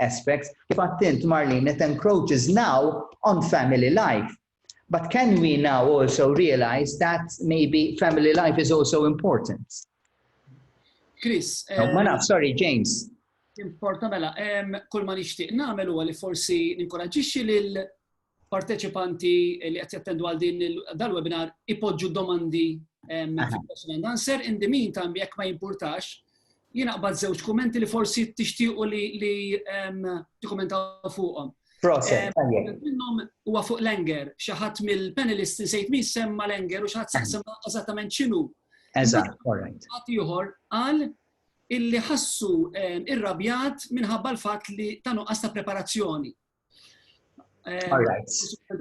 S1: aspects, kif għedt int Marlene, it encroaches now on family life. But can we now also realise that maybe family life is also important? Chris. No, eh, ma naf, sorry, James. Importa mela, kull ma nixtieq nagħmel huwa li forsi ninkoraġġixxi lil parteċipanti li qed jattendu għal din dal-webinar ipoġġu domandi fil-question and answer. In the meantime, jekk ma jimpurtax, jien aqbad żewġ kummenti li forsi tixtiequ li tikkumentaw fuqhom. Proset, tajjeb. Minnhom huwa fuq Langer, xi ħadd mill-panelists insejt min semma Langer u xi ħadd semma eżattament x'inhu. Eżatt, korrekt. Ħadd ieħor qal illi ħassu irrabjat minħabba l-fatt li ta' nuqqas ta' preparazzjoni. Eh, All right.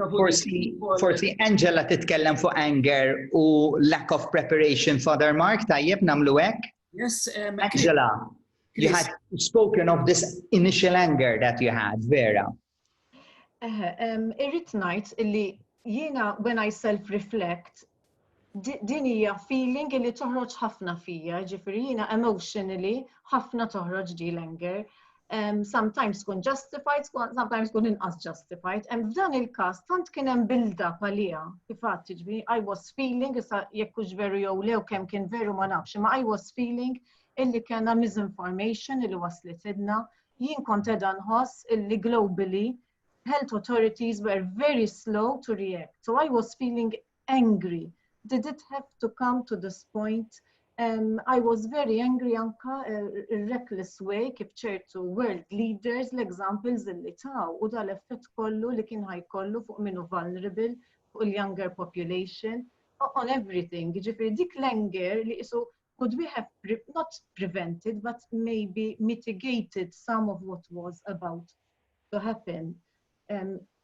S1: Forsi, forsi Angela titkellem fuq anger u lack of preparation for their mark, tajjeb namlu hekk? Yes, um, Angela, you had spoken of this initial anger that you had, Vera. Eh, um, irrit najt illi jiena when I self-reflect, din hija feeling li toħroġ ħafna fija, ġifiri jina emotionally ħafna toħroġ di l-anger. Um, sometimes kun justified, sometimes kun inqas justified. And f'dan il-kas, tant kien hemm bilda palija, kifat, ġifiri, I was feeling, issa jekk hux veru jew lew kemm kien veru ma nafx, ma I was feeling illi kena misinformation illi waslet idna, jien kont edha nħoss illi globally health authorities were very slow to react. So I was feeling angry. Did it have to come to this point? Um, I was very angry anka uh, reckless way kif ċertu world leaders l-examples li taw u dal-effett kollu li kien ħaj kollu fuq minu vulnerable fuq il-younger population on everything. Ġifiri dik l-anger li isu could we have pre not prevented but maybe mitigated some of what was about to happen. Um,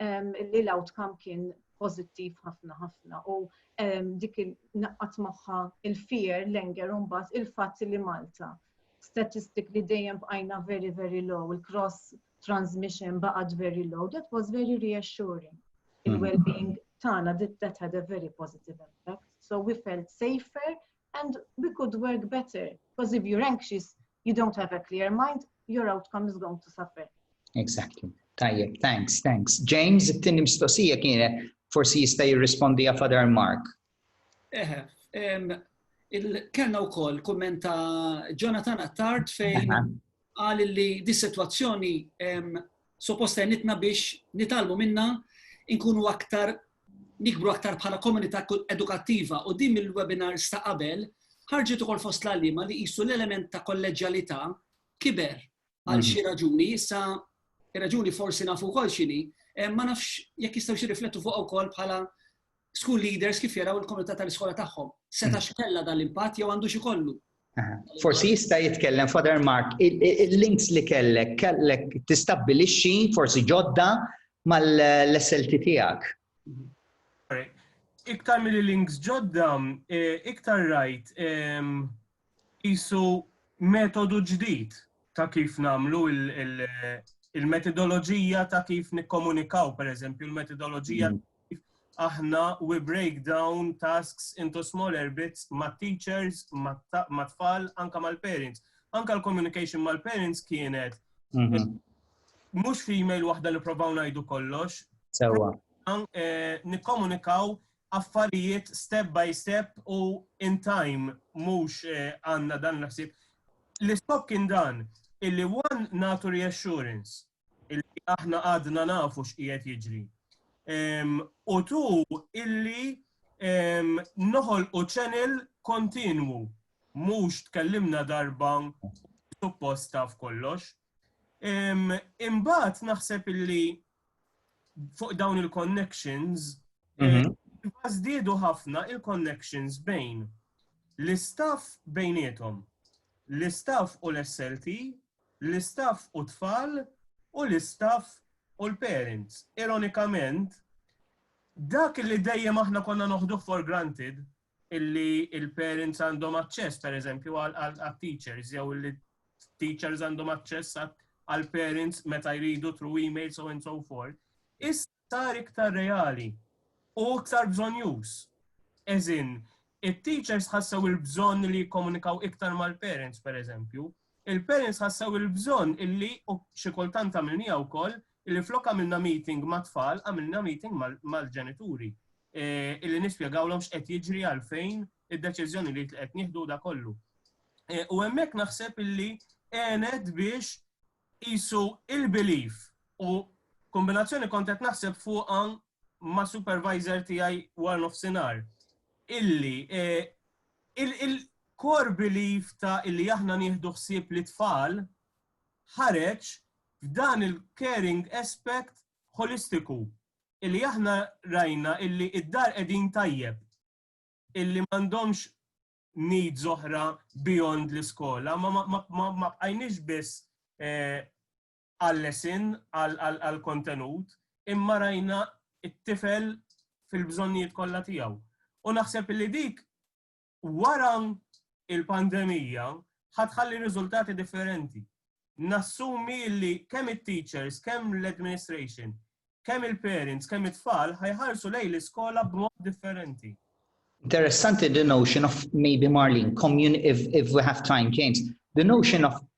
S1: li l-outcome kien pozittiv ħafna ħafna u dik il-naqqat maħħa il-fear, l-enger un bat il-fat li Malta. Statistik li dejjem bqajna very, very low, il-cross transmission baqat very low, that was very reassuring. Mm-hmm. Il-well-being tana, that had a very positive impact. So we felt safer And we could work better, because if you're anxious, you don't have a clear mind, your outcome is going to suffer. Exactly. Tajjeb, thanks, thanks. James, it-tini mistoqsija kienet forsi jista' jirrispondi għaf Father Mark. Eħe, kellna wkoll kumment ta' Jonathan Attard fejn qal li dis-sitwazzjoni suppost għenitna biex nitgħallmu minnha nkunu aktar nikbru aktar bħala komunità edukattiva u din mill-webinar sta qabel ħarġet ukoll fost l-għalliema li qisu l-element ta' kolleġjalità kiber għal mhm. xi raġuni, issa raġuni forsi nafu wkoll x'inhi, eh, ma nafx jekk jistgħu xi riflettu fuq ukoll bħala School leaders kif jaraw il-komunità tal-iskola tagħhom? Seta' hmm. x'kella dan l-impatt jew għandu xikollu? Forsi jista' jitkellem Father Mark, il-links li kellek, kellek tistabbilixxi forsi ġodda mal-SLT tiegħek. Iktar mill-links ġodda, eh, iktar rajt ehm, qisu metodu ġdid ta' kif nagħmlu il-metodoloġija ta' kif nikkomunikaw, pereżempju l-metodoloġija kif aħna we break down tasks into smaller bits mat-teachers, mat-tfal, anke mal-parents. Anke l-communication mal-parents kienet mhm. mhux f'email waħda li provaw ngħidu kollox. Sewwa. Eh, nikkomunikaw affarijiet step by step u in time mhux għandna dan il-ħsieb. L-iskop kien dan, illi one nagħtu reassurance illi aħna għadna nafu x'qiegħed jiġri. U tu illi noħolqu channel kontinwu mhux tkellimna darba suppost taf kollox. Imbagħad naħseb illi fuq dawn il-connections, mhm. eh, żdiedu ħafna il-connections bejn l-istaff bejnietom, l-istaff u l-SLT, l-istaff u tfal u l-istaff u l-parents. Ironikament, dak li dejjem aħna konna noħduh for granted, illi il-parents għandhom aċċess, per eżempju, għal-teachers, jew illi teachers għandhom aċċess għal-parents meta jridu through email, so and so forth. Is sar iktar reali u iktar bżonjus. Eżin, il-teachers ħassew il-bżon li jikkomunikaw iktar mal-parents, per eżempju, il-parents ħassew il-bżon illi u xikultant għamilnija u koll Illi flok għamilna meeting mat-tfal, għamilna meeting mal-ġenituri. Illi nispjegawlhom x'qed jiġri għalfejn id-deċiżjonijiet li qed nieħdu da kollu. U hemmhekk naħseb illi għenet biex qisu il-belief u kombinazzjoni kont qed naħseb fuqha ma' supervisor tiegħi war nofsinhar. Illi il-core belief ta' illi aħna nieħdu ħsieb li tfal ħareġ f'dan il-caring aspect ħolistiku illi aħna rajna illi id-dar qegħdin tajjeb, illi m'għandhomx needs oħra beyond l-iskola, ma bqajniex biss għal-lesin, għall-kontenut, imma rajna t-tifel fil-bżonnijiet kollha tiegħu. U naħseb illi dik wara l-pandemija ħa tħalli riżultati differenti. Nassumi li kemm it-teachers, kemm l-administration, kemm il-parents, kemm it-tfal ħajħarsu lej l-iskola b'mod differenti. Interessanti the notion of maybe Marlene, if, if we have time, James, the notion of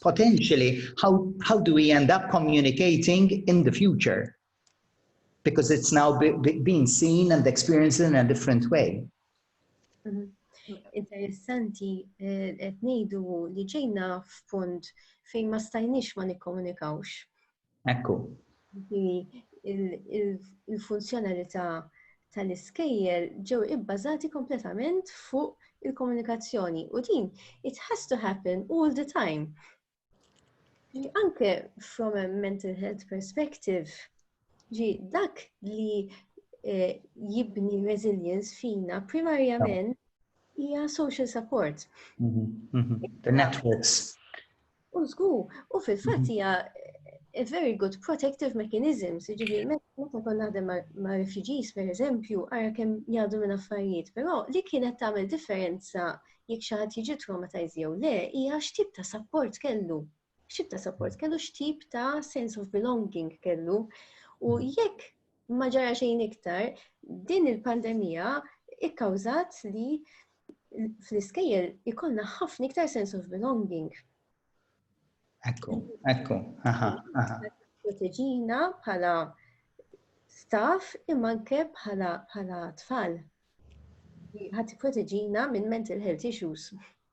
S1: potentially how, how do we end up communicating in the future? Because it's now be, be, being seen and experienced in a different way. Mm -hmm. Interessanti, eh, qed ngħidu li ġejna f'punt fejn ma stajniex ma nikkomunikawx. Ekku. Il-funzjonalità tal-iskejjel ġew ibbażati kompletament fuq il-komunikazzjoni u din it has to happen all the time. Anke from a mental health perspective, ġi dak li eh, jibni resilience fina primarjament hija social support. Mhm, mhm. The networks. U żgur, u fil-fatt hija a very good protective mechanism, ġifieri meta kon naħdem ma' refugees per eżempju, ara kemm jgħadu minn affarijiet, però li kienet tagħmel differenza jekk xi ħadd jiġi traumatized jew le, hija x'tip ta' support kellu. X'tip ta' support kellu, x'tip ta' sense of belonging kellu. U jekk Ma ġara xejn iktar, din il-pandemija ikkawżat li fl-iskejjel ikonna ħafna iktar sense of belonging. Ekku, ekku, aha, aha. Proteġina bħala staff imma anke bħala tfal. Ħadd proteġina minn mental health issues.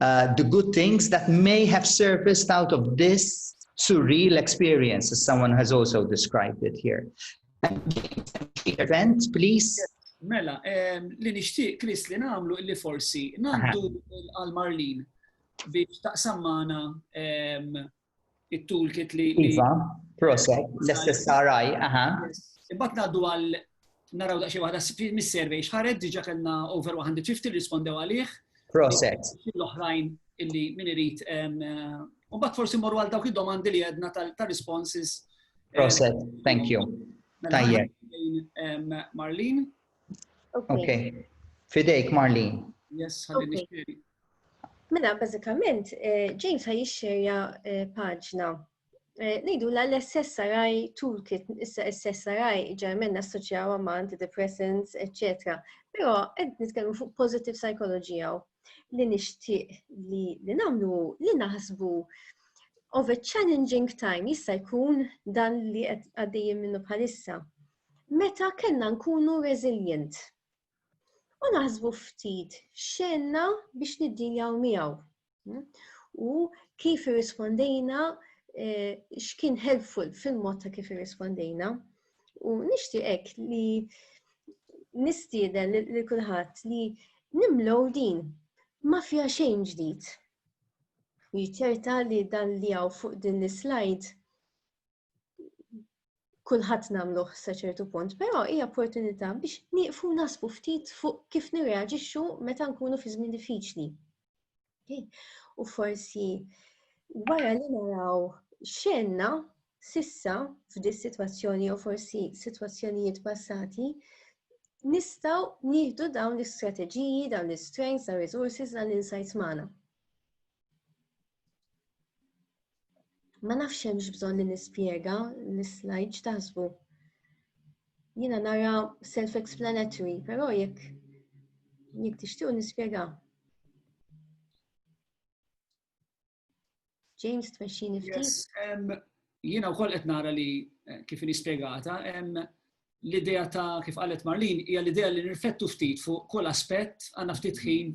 S1: the good things that may have surfaced out of this surreal experience, as someone has also described it here. Event, please. Mela, li nixtieq Chris li nagħmlu illi forsi ngħaddu għal Marlin biex taqsam magħna it-toolkit li. Iva, proset, l-istess saraj, aha. Imbagħad ngħaddu għal naraw daqsxejn waħda mis-survey xħared diġa kellna over 150 rispondew għalih. Proset. L-oħrajn illi min irid eh, u bat forsi morru għal dawk id-domandi li għedna tal-responses. Eh, proset, thank you. Mela, Tajjeb. Marlene. Okay. Fidejk, Marlene. Yes, ħalli nixtieq. Mela, bażikament, eh, James ħaj jixxerja eh, paġna. Eh, Nejdu la l-SSRI toolkit, issa SSRI ġarmenna assoċjaw ma' antidepressants, etc. Pero għed nitkellmu fuq positive psychology għaw li nishtiq li li namlu li naħsbu of a challenging time jista' jkun dan li għaddejjem minnu bħalissa. Meta kellna nkunu resilient, u naħsbu ftit xenna biex niddiljaw miegħu. Hmm? U kif irrispondejna eh, x'kien helpful fil-mod ta' kif irrispondejna. U nixtieqek li nistieden li kulħadd li nimlow din ma fiha xejn ġdid. U jiċċerta li dan li għaw fuq din l-slide kulħadd nagħmluh sa ċertu punt, però hija opportunità biex nieqfu nasbu ftit fuq kif nirreaġixxu meta nkunu fi żmien diffiċli. U forsi wara li naraw xenna sissa f'dis sitwazzjoni jew forsi sitwazzjonijiet passati, nistaw nieħdu dawn l-istrateġiji, dawn l-strengths, dawn l-resources, dawn l-insights magħna. Ma nafx hemmx bżonn li nispjega l-slide x'taħsbu. Jiena nara self-explanatory, però jekk jekk tixtiequ nispjega. James tmexxini ftit. Jiena wkoll qed nara li eh, kif nispjegata hemm l-idea ta' kif qalet Marlin hija l-idea li nirfettu ftit fuq kull aspett għandna ftit ħin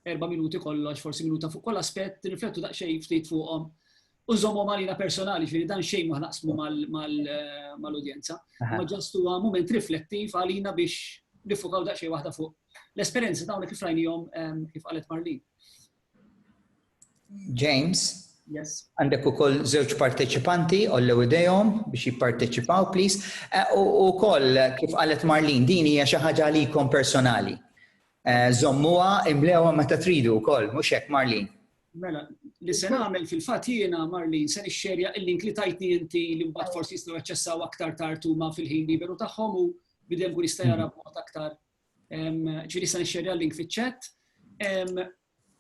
S1: erba' minuti kollox, forsi minuta fuq kull aspett, nirfettu daqsxejn ftit fuqhom u nżommhom għalina personali, ġifieri dan xejn ma naqsmu mal-udjenza. Ma ġast huwa mument riflettiv għalina biex nifukaw daqsxejn waħda fuq l-esperjenza ta' kif rajnihom kif qalet Marlin. James? Yes. Għandek ukoll żewġ parteċipanti ollew idejhom biex jipparteċipaw, please. E, u koll, kif qalet Marlin, din hija xi ħaġa għalikom personali. E, żommuha imlewha meta tridu wkoll, mhux hekk Marlin. Mela, li se nagħmel fil-fatt jiena Marlin se nixxerja il-link li tajtni inti li mbagħad forsi jistgħu jaċċessaw aktar tard huma fil-ħin liberu tagħhom u bidem kun jista' jara b'mod aktar Ġifieri sa nixxerja l-link fiċ-chat.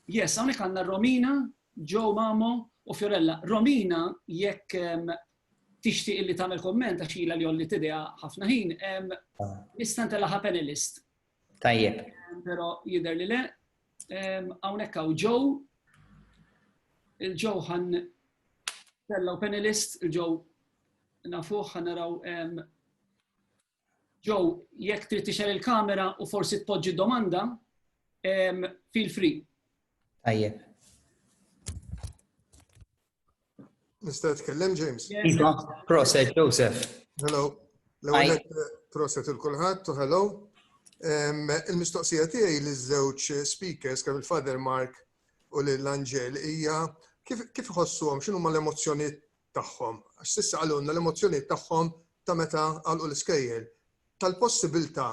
S1: Yes, hawnhekk għandna Romina, Joe Mamo u Fiorella. Romina jekk tixtieq li tagħmel komment għax ilha li jolli tidea ħafna ħin, nista' ntellagħha panelist. Tajjeb. Però jidher li le. Hawnhekk hawn Joe. Il-Joe ħan tellaw panelist, il-Joe nafuh ħan naraw Joe, jekk trid tixel il-kamera u forsi tpoġġi domanda, feel free. Tajjeb. Nista' tkellem James? Iva, proset Joseph. Hello. L-ewwel eh, proset il kulħadd u hello. Il-mistoqsija tiegħi li żewġ speakers kemm il-Father Mark u l-Angel hija kif iħossuhom x'inhuma l-emozzjonijiet tagħhom, għax s'issa qalulna l-emozzjonijiet tagħhom ta' meta għalqu l-iskejjel, tal-possibiltà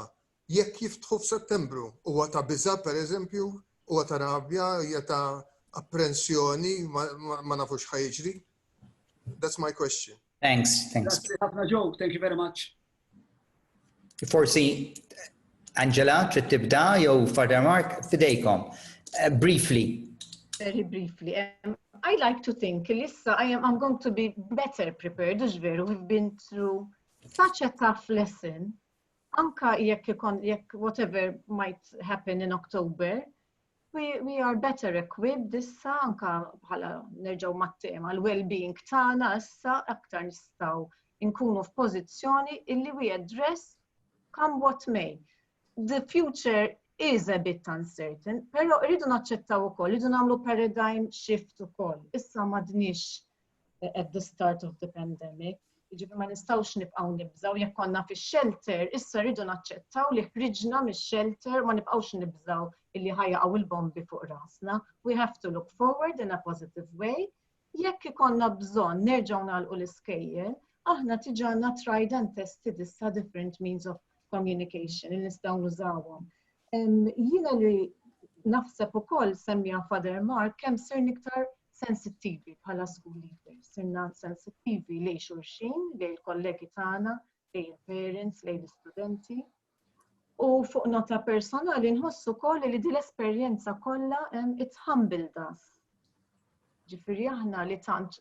S1: jekk jiftħu f'Settembru. Huwa ta' biża' pereżempju, huwa ta' rabja, hija ta' apprensjoni, ma nafux x'ħa jiġri. That's my question. Thanks, thanks. Grazzi ħafna Joe, thank you very much. Forsi Angela trid tibda jew Father Mark fidejkom. Eh, briefly. Very briefly. Um, I like to think Lissa, I am I'm going to be better prepared, ux veru, we've been through such a tough lesson. Anka jekk jekk whatever might happen in October, We, we are better equipped issa anka bħala nerġgħu mat-tema l-well-being tagħna issa aktar nistgħu nkunu f'pożizzjoni illi we address come what may. The future is a bit uncertain, però rridu naċċettaw ukoll, rridu nagħmlu paradigm shift ukoll. Issa m'għadniex at the start of the pandemic. Ġifi ma nistawx nibqaw nibżaw, jekk konna fi shelter, issa rridu naċċettaw li ħriġna mis shelter ma nibqawx nibżaw illi ħajja għaw il-bombi fuq rasna. We have to look forward in a positive way. Jekk ikonna bżon nerġaw nalqu l-iskejjel, aħna tiġanna tried and tested issa different means of communication li nistgħu nużawhom. Jiena li naħseb ukoll semmija Father Mark kemm sir niktar sensittivi bħala school leaders, sirna sensittivi lej xulxin, lej il-kollegi tagħna, lej il-parents, lej l-istudenti. U fuq nota personali nħossu koll li din l-esperjenza kollha it's humbled us. Ġifieri aħna li tant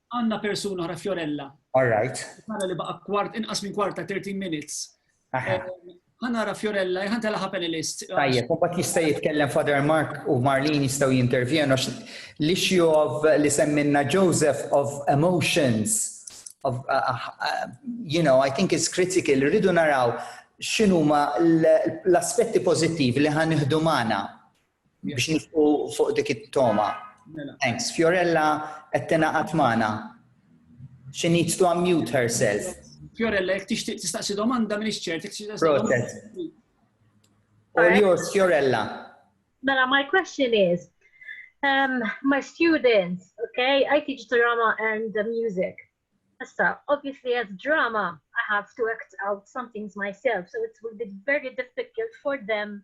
S1: Għandna persuna oħra Fiorella. All right. Nara li baqa' kwart inqas minn kwarta 30 minutes. Għanara Fiorella, jħan tela panelist. Tajjeb, u bat jista' jitkellem Father Mark u Marlin jistgħu jintervjenu l-issue of li semminna Joseph of emotions. Of, uh, uh, uh you know, I think it's critical, rridu naraw x'inhuma l-aspetti pożittivi li ħan iħdu magħna biex nifqu fuq dik it-toma. Mela. Thanks. Fiorella qed tingħaqad magħna. She needs to unmute herself. Fiorella, jek tixtieq tistaqsi domanda minn iċċert, jek tixtieq Proċess. Or yours, Fiorella. Mela, my question is, um, my students, okay, I teach drama and the music. Issa, obviously as drama, I have to act out some things myself, so it will be very difficult for them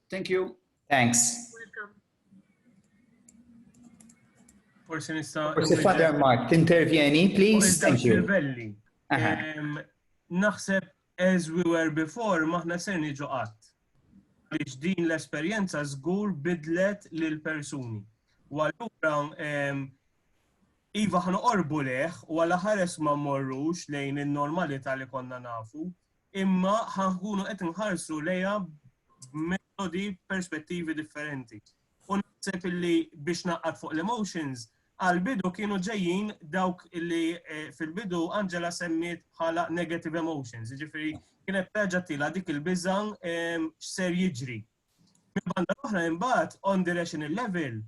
S1: Thank you. Thanks. Welcome. Forse nista' Forse Father Mark, tintervjeni, please. Thank you. Naħseb as we were before, maħna ser niġu qatt. Biex din l-esperjenza żgur bidlet lil persuni. U allura Iva ħan orbu leħ u għala ħares ma morrux lejn il-normalità li konna nafu, imma ħa nkunu qed inħarsu lejha b'metodi perspettivi differenti. U naħseb illi biex naqgħad fuq l-emotions, għal-bidu kienu ġejjin dawk illi eh, fil-bidu Angela semmiet bħala negative emotions, ġifiri kienet terġa' tila dik il-biża ehm, x'ser jiġri. Minn banda l-oħra imbagħad on the rational level,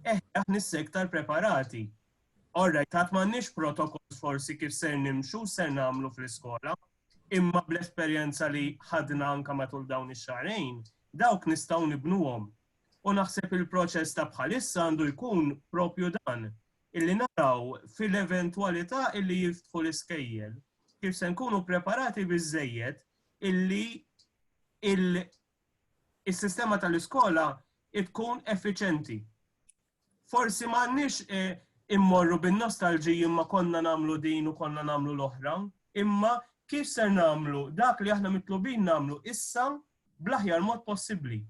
S1: eh aħna iktar preparati. Orra, tat m'għandniex protokoll forsi kif ser nimxu, ser nagħmlu fl-iskola. imma bl-esperjenza li ħadna anke matul dawn ix-xahrejn, dawk nistgħu nibnuhom. U naħseb il-proċess ta' bħalissa għandu jkun proprju dan, illi naraw fil-eventwalità illi jinftħu l-iskejjel, kif se nkunu ppreparati biżżejjed illi is-sistema tal-iskola tkun effiċjenti. forsi m'għandniex immorru bin-nostalġiji imma konna nagħmlu din u konna nagħmlu l-oħra, imma kif ser nagħmlu dak li aħna mitlubin nagħmlu issa bl-aħjar mod possibbli.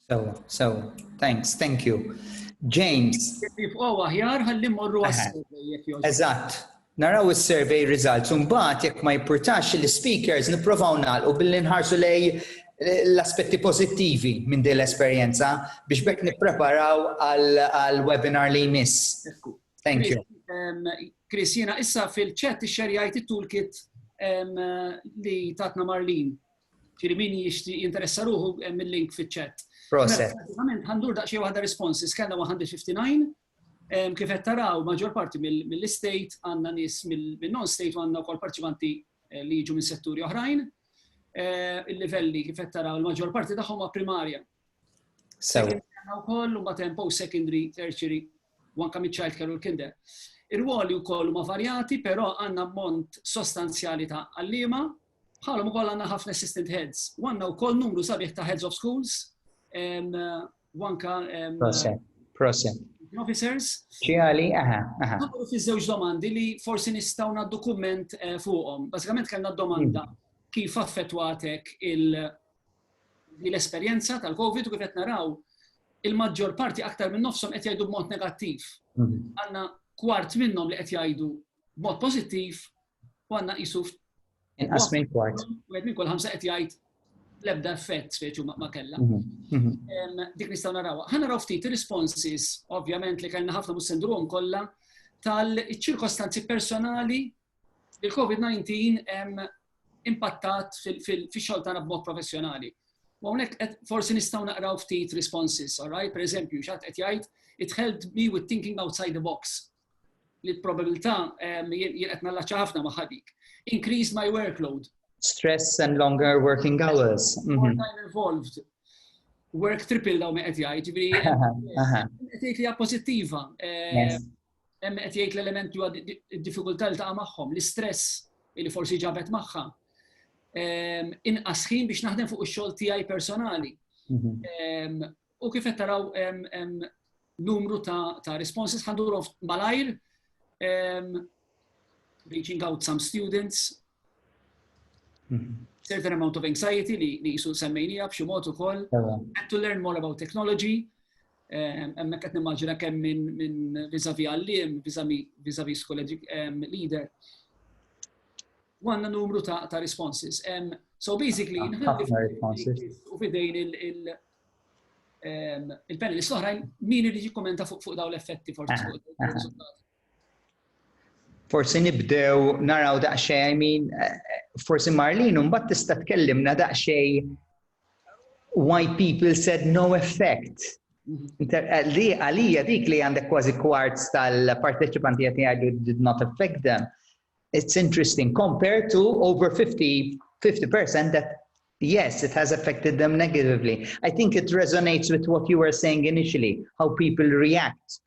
S1: Sewa, sewa. Thanks, thank you. James. Tifqgħu aħjar ħalli morru għas-survey jekk Eżatt, Naraw is-survey results u mbagħad jekk ma jippurtax l-ispeakers nipprovaw nagħlqu billi nħarsu lejn l-aspetti pożittivi minn din l-esperjenza biex b'hekk nippreparaw għall-webinar li jmiss. Thank you. Chris, jiena issa fil-chat ixxerjajt it-toolkit li tatna Marlin. Ġiri min jixti jinteressa ruħu mill-link fil-chat. Proset. Għandur daqxie waħda responses, kena 159, Kif qed taraw, maġġor parti mill-estate għandna nies mill-non-state u għandna wkoll parteċipanti li jiġu minn setturi oħrajn. Il-livelli kif qed taraw il-maġġor parti tagħhom huma primarja. Sew. Għandna wkoll mbagħad hemm post-secondary, tertiary u anke miċ-child care u l-kinder. Ir-rwoli wkoll huma varjati, però għandna ammont sostanzjali ta' għalliema, bħalhom ukoll għandna ħafna assistant heads. U għandna wkoll numru sabiħ ta' heads of schools u anka officers. Ċiali, aha, aha. Għamlu fi żewġ domandi li forsi nistaw na dokument eh, fuqhom. Basikament kellna domanda hmm. kif affettwatek l-esperjenza tal-COVID u kif qed naraw il-maġġor parti aktar minn nofsom qed jgħidu b'mod negattiv. Hmm. Għandna kwart minnhom li qed jgħidu b'mod pożittiv U għanna jisu Inqas minn kwart. Wieħed minn kull ħamsa qed jgħid l-ebda effett speċi ma kellha. Mhm, mhm. Dik nistgħu narawha. Ħa naraw ftit responses, ovvjament li kellna ħafna mhux sendrom kollha tal-ċirkostanzi personali li l-COVID-19 impattat fil-xogħol tagħna b'mod professjonali. U hawnhekk forsi nistgħu naqraw ftit responses, all right? Per eżempju, xatt qed jgħid it helped me with thinking outside the box. li l-probabilità jien qed nallaċċa ħafna magħha dik. Increase my workload. Stress and longer working hours. Mhm. More time involved. Work triple daw me qed jgħid, ġifieri qed jgħid li hija pożittiva. Eh, hemm qed jgħid l-element huwa d-diffikultà li taqa' magħhom, l-istress li forsi ġabet magħha. Ehm, inqas ħin biex naħdem fuq ix-xogħol tiegħi personali. Mhm. Ehm, U kif qed taraw numru ta' responses ħandurhom malajr reaching out some students mhm. certain amount of anxiety li li jisu semmejnija b'xi mod ukoll had to learn more about technology emma qed nimmaġina kemm minn min viżavi għalliem, viżavi school leader. Għanna numru ta' responses. So basically, u fidejn il- ehm, il-panelist oħrajn min irid jikkumenta fuq dawn l-effetti forsi fuq il-riżultati. Forsi nibdew naraw daqsxejn, I mean, eh, forsi Marlin, un bat tista tkellimna daqsxejn why people said no effect. Mhm. Eh, għalija dik li għandek kważi kwarts tal-parteċipanti għati għadu did not affect them. It's interesting compared to over 50, 50% that yes, it has affected them negatively. I think it resonates with what you were saying initially, how people react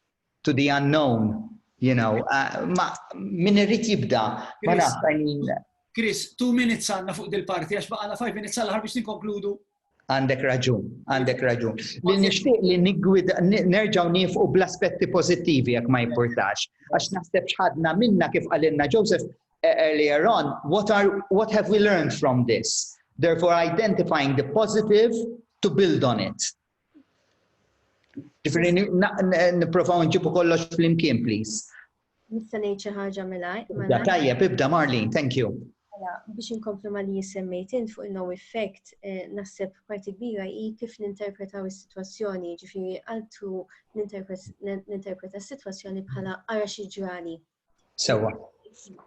S1: to the unknown, you know. Uh, ma, min irrit jibda, ma naf, I mean, Chris, two minutes għanna fuq dil-parti, għax baqana five minutes għal ħar biex ninkonkludu Għandek raġun, għandek raġun. Li nixtieq li niggwida nerġgħu nifqu bl-aspetti pożittivi jekk ma jimpurtax. Għax naħseb x'ħadna minna kif qalilna Joseph e, earlier on, what are what have we learned from this? Therefore identifying the positive to build on it. Ġifieri nipprovaw nġibu kollox flimkien, please. Nista' ngħid xi ħaġa milgħajr. Mela. Tajjeb, ibda Marlin, thank you. Mela, biex inkomplu ma li jissemmejt int fuq il-no effect, eh, naħseb parti kbira hi kif ninterpretaw is-sitwazzjoni, ġifieri għaltu ninterpreta s-sitwazzjoni bħala ara xi ġrali. Sewwa.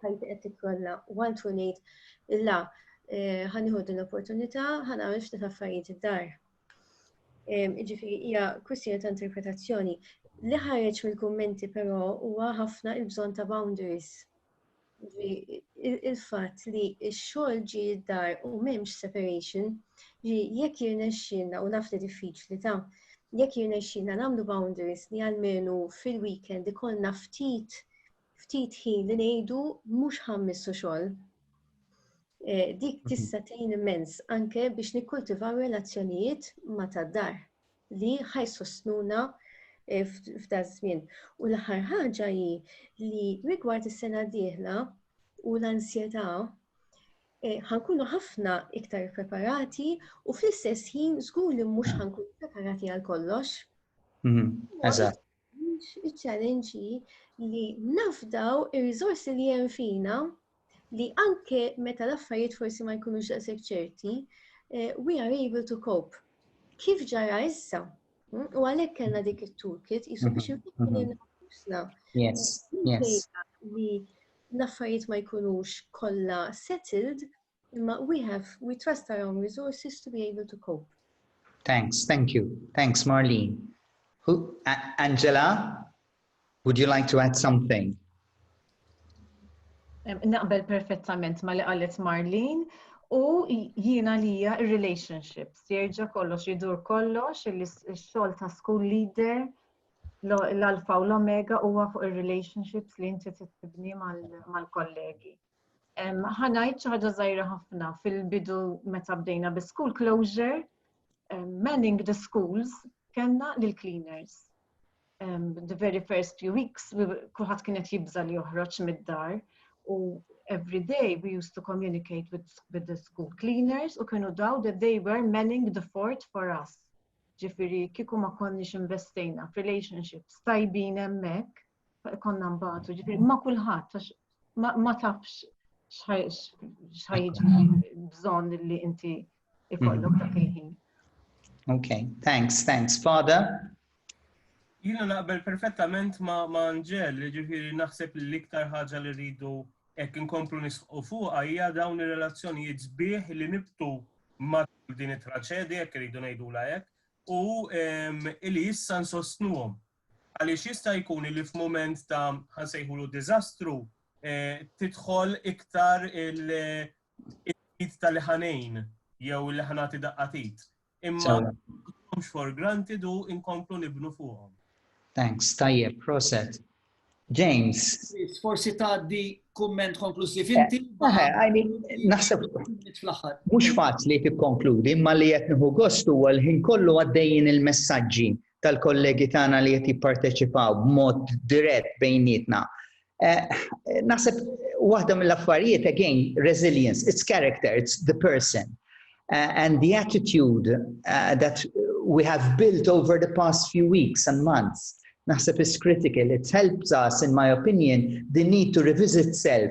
S1: Ħajti qed tikkolla u għaltu ngħid la eh, ħaniħu din l-opportunità, ħanagħmel ftit affarijiet id-dar. Ġifiri, hija kwistjoni ta' interpretazzjoni. Li ħareġ mill-kummenti però huwa ħafna il-bżonn ta' boundaries. Il-fatt li x-xogħol ġi d-dar u m'hemmx separation, ġi jekk jirnexxilna u naf li diffiċli ta' jekk jirnexxilna nagħmlu boundaries li għalmenu fil-weekend ikollna ftit ftit ħin li ngħidu mhux ħammissu xogħol. Eh, dik mhm. tista' tgħin immens anke biex nikkultivaw relazzjonijiet ma' tad-dar li ħajsostnuna eh, f'da żmien. U l-aħħar ħaġa hi li rigward is-sena d-dieħla u l-ansjetà Eh, ħankunu ħafna iktar preparati u fl-istess ħin żgur li mhux ħankunu preparati għal kollox. Mhm, eżatt. Iċ-challenge hi li nafdaw ir-riżorsi li hemm fina li anke meta l-affarijiet forsi ma jkunux daqshekk ċerti, eh, we are able to cope. Kif ġara issa? Hmm? U għalhekk kellna dik it-toolkit jisu biex mhm, mhm. nfittu nafusna. Yes, yes. Li l-affarijiet ma jkunux kollha settled, Imma we have, we trust our own resources to be able to cope. Thanks, thank you. Thanks, Marlene. Who, A Angela, would you like to add something? Naqbel perfettament ma li qalet Marlene u jiena li hija relationships jerġa' kollox jidur kollox il-xogħol ta' school leader l-alfa u l-omega huwa fuq ir-relationships li inti tibni mal-kollegi. Ħanajt xi ħaġa żgħira ħafna fil-bidu meta bdejna bi school closure, manning the schools kellna lil cleaners. The very first few weeks kulħadd kienet jibża li joħroġ mid-dar u every day we used to communicate with, with the school cleaners u kienu daw that they were manning the fort for us. Ġifiri, kiku ma konniex investejna f'relationships tajbin emmek, konna mbagħtu, ġifieri ma kulħadd għax ma tafx xħajġi bżonn li inti ikollok dak il-ħin. Ok, thanks, thanks. Father? Jina naqbel perfettament ma' Angel, ġifiri naħseb li l-iktar ħaġa li rridu ek inkomplu nisqu fuq hija dawn ir-relazzjonijiet sbieħ li nibtu ma' din it-traċedja, jekk rridu ngħidu hekk, u li issa nsostnuhom. Għaliex jista' jkun li f'mument ta' ħa nsejħulu diżastru tidħol iktar il-id tal ħanejn jew li ħanati daqqatit. Imma mhux for granted u inkomplu nibnu fuqhom. Thanks, tajjeb, proset. James. Forsi tgħaddi kumment konklusiv eh, inti. Eh, għajni, naħseb. Mhux faċli tikkonkludi, imma li qed nieħu gost huwa l-ħin kollu għaddejjin il-messaġġi tal-kollegi tagħna li qed jipparteċipaw b'mod dirett bejnietna. Eh, naħseb waħda mill-affarijiet again resilience, it's character, it's the person eh, and the attitude eh, that we have built over the past few weeks and months. Naħseb is critical, it helps us in my opinion the need to revisit self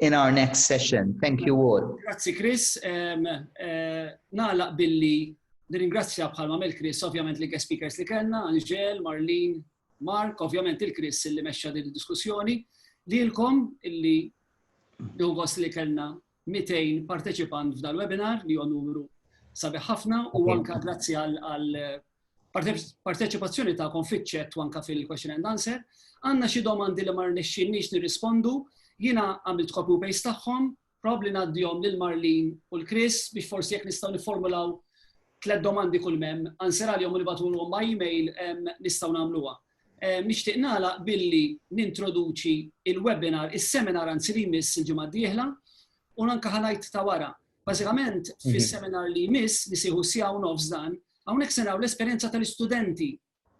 S1: in our next session. Thank you all. Grazzi Chris. Um, uh, nalaq billi nirringrazzja bħalma mel Chris, ovvjament li guest speakers li kellna, Angel, Marlene, Mark, ovvjament il-Chris li mexxa din id-diskussjoni, lilkom illi nħugos li kellna 200 parteċipant f'dal-webinar li huwa numru sabiħ ħafna u anka grazzi għal parteċipazzjoni tagħkom fiċ-ċett u anke fil-question and answer. Għandna xi domandi li ma rnexxinniex nirrispondu, jiena għamilt copy u paste tagħhom, probabli ngħaddihom lil Marlin u l-Chris biex forsi jekk nistgħu nifformulaw tliet domandi kull mem, answer għalihom u nibatulhom ma' email nistgħu nagħmluha. Nixtieq nagħlaq billi nintroduċi il-webinar, is-seminar anzi li jmiss il-ġimgħa d-dieħla u anke ħanajt ta' wara Bażikament, mhm. fis-seminar li jmiss li sieħu sija u nofs dan, hawnhekk se naraw l-esperjenza tal-istudenti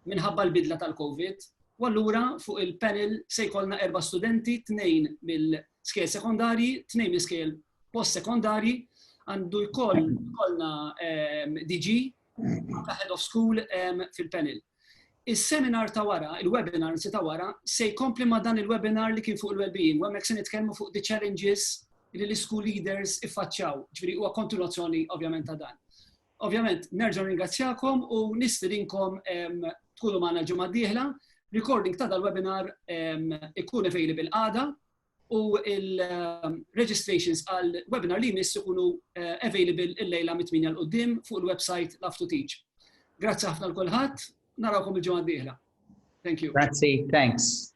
S1: minħabba l-bidla tal-COVID. U allura fuq il-panel se jkollna erba' studenti, tnejn mill-skejl sekondarji, tnejn mill-skejl post-sekondarji, għandu jkollna ehm, DG ta' Head of School fil-panel. Is-seminar ta' wara, il-webinar nsi ta' wara, se jkompli ma' dan il-webinar li kien fuq il-well-being, u hemmhekk se nitkellmu fuq the challenges li l-school leaders iffaċċaw, ġifieri huwa kontinuazzjoni ovvjament ta' dan. Ovvjament, nerġgħu ringrazzjakom u nistirinkom tkunu magħna ġimgħa d-dieħla. Recording ta' dal-webinar ikun available għada u il-registrations għal webinar li jmiss ikunu eh, available il-lejla mit-8 l-qoddim fuq il-website Love to Teach. Grazzi ħafna l-kulħadd, narawkom il-ġimgħa d-dieħla. Thank you. Grazzi, thanks.